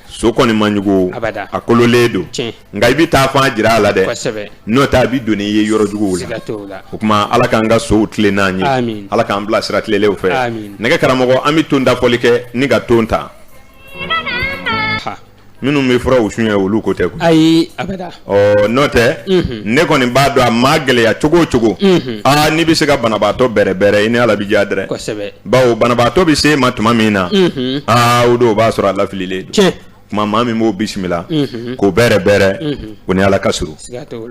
so kɔni man jugu a kololen don nka i bɛ taa fan jira a la dɛ n'o tɛ a bɛ don n'i ye yɔrɔ juguw la o tuma ala k'an ka sow tilen n'an ye ala k'an bila sira tilelenw fɛ nɛgɛ karamɔgɔ an bɛ ton da foli kɛ nka ton ta minnu bɛ furaw sonyɛ olu ko tɛ ayi ɔ n'o tɛ ne kɔni b'a dɔn a maa gɛlɛya cogo o cogo aa n'i bɛ se ka banabaatɔ bɛrɛbɛrɛ i ni ala bɛ diya dɛrɛ bawo banabaatɔ bɛ se ma tuma min na aa o don o b'a sɔrɔ a lafililen tuma maa min b'o bisimila k'o bɛrɛ bɛrɛ o ni ala ka surun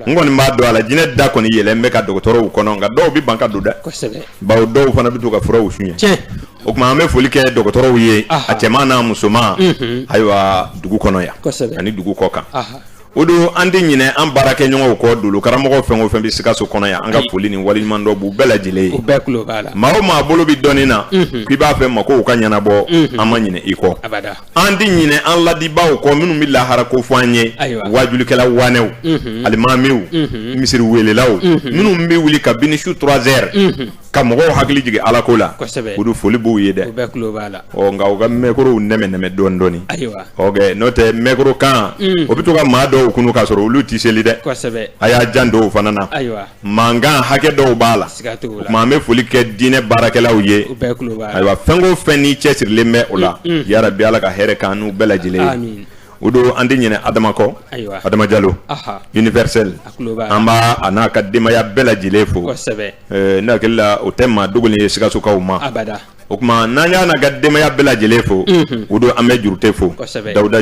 n kɔni b'a dɔn alijinɛ da kɔni yɛlɛlen bɛ ka dɔgɔtɔrɔw kɔnɔ nka dɔw bɛ ban ka don dɛ bawo dɔw fana bɛ to ka furaw sonyɛ o tuma an bɛ foli kɛ dɔgɔtɔrɔw ye a cɛman n'a musoman ayiwa dugu kɔnɔ yan ani dugu kɔkan o don an tɛ ɲinɛ an baarakɛɲɔgɔnw kɔ dolo karamɔgɔ fɛn o fɛn bɛ sikaso kɔnɔ yan an ka foli ni waliɲumandɔn b'u bɛɛ lajɛlen ye u bɛɛ tulo b'a la maa o maa bolo bɛ dɔnni na k'i b'a fɛ makow ka ɲɛnabɔ an ma ɲinɛ i kɔ abada an tɛ ɲinɛ an ladibaaw kɔ minnu bɛ lahara ko fɔ an ye ayiwa waajulikɛla wanɛw alimamiw misiri welelaw minnu bɛ wuli kabini su 3 heures ka mɔgɔw hakili jigin ala ko la o don foli b'u ye dɛ nka u ka mɛkorow nɛmɛnɛmɛ dɔɔni dɔɔni n'o tɛ mɛkoro kan mm. o bɛ to ka maa dɔw kunun k'a sɔrɔ olu tɛ seli dɛ a y'a jant'o fana na mankan hakɛ dɔw b'a la tuma an bɛ foli kɛ diinɛ baarakɛlaw ye ayiwa fɛn o fɛn n'i cɛsirilen bɛ o la mm, mm. yarabi ala ka hɛrɛ k'an n'u bɛɛ lajɛlen ye o don an tɛ ɲinɛ adama kɔ adama jalo universel an b'a a n'a ka denbaya bɛɛ lajɛlen fo ne hakili la o tɛ maa dogolen ye sikasokaw ma o tuma n'an y'a n'a ka denbaya bɛɛ lajɛlen fo o don an bɛ jurute fo dawuda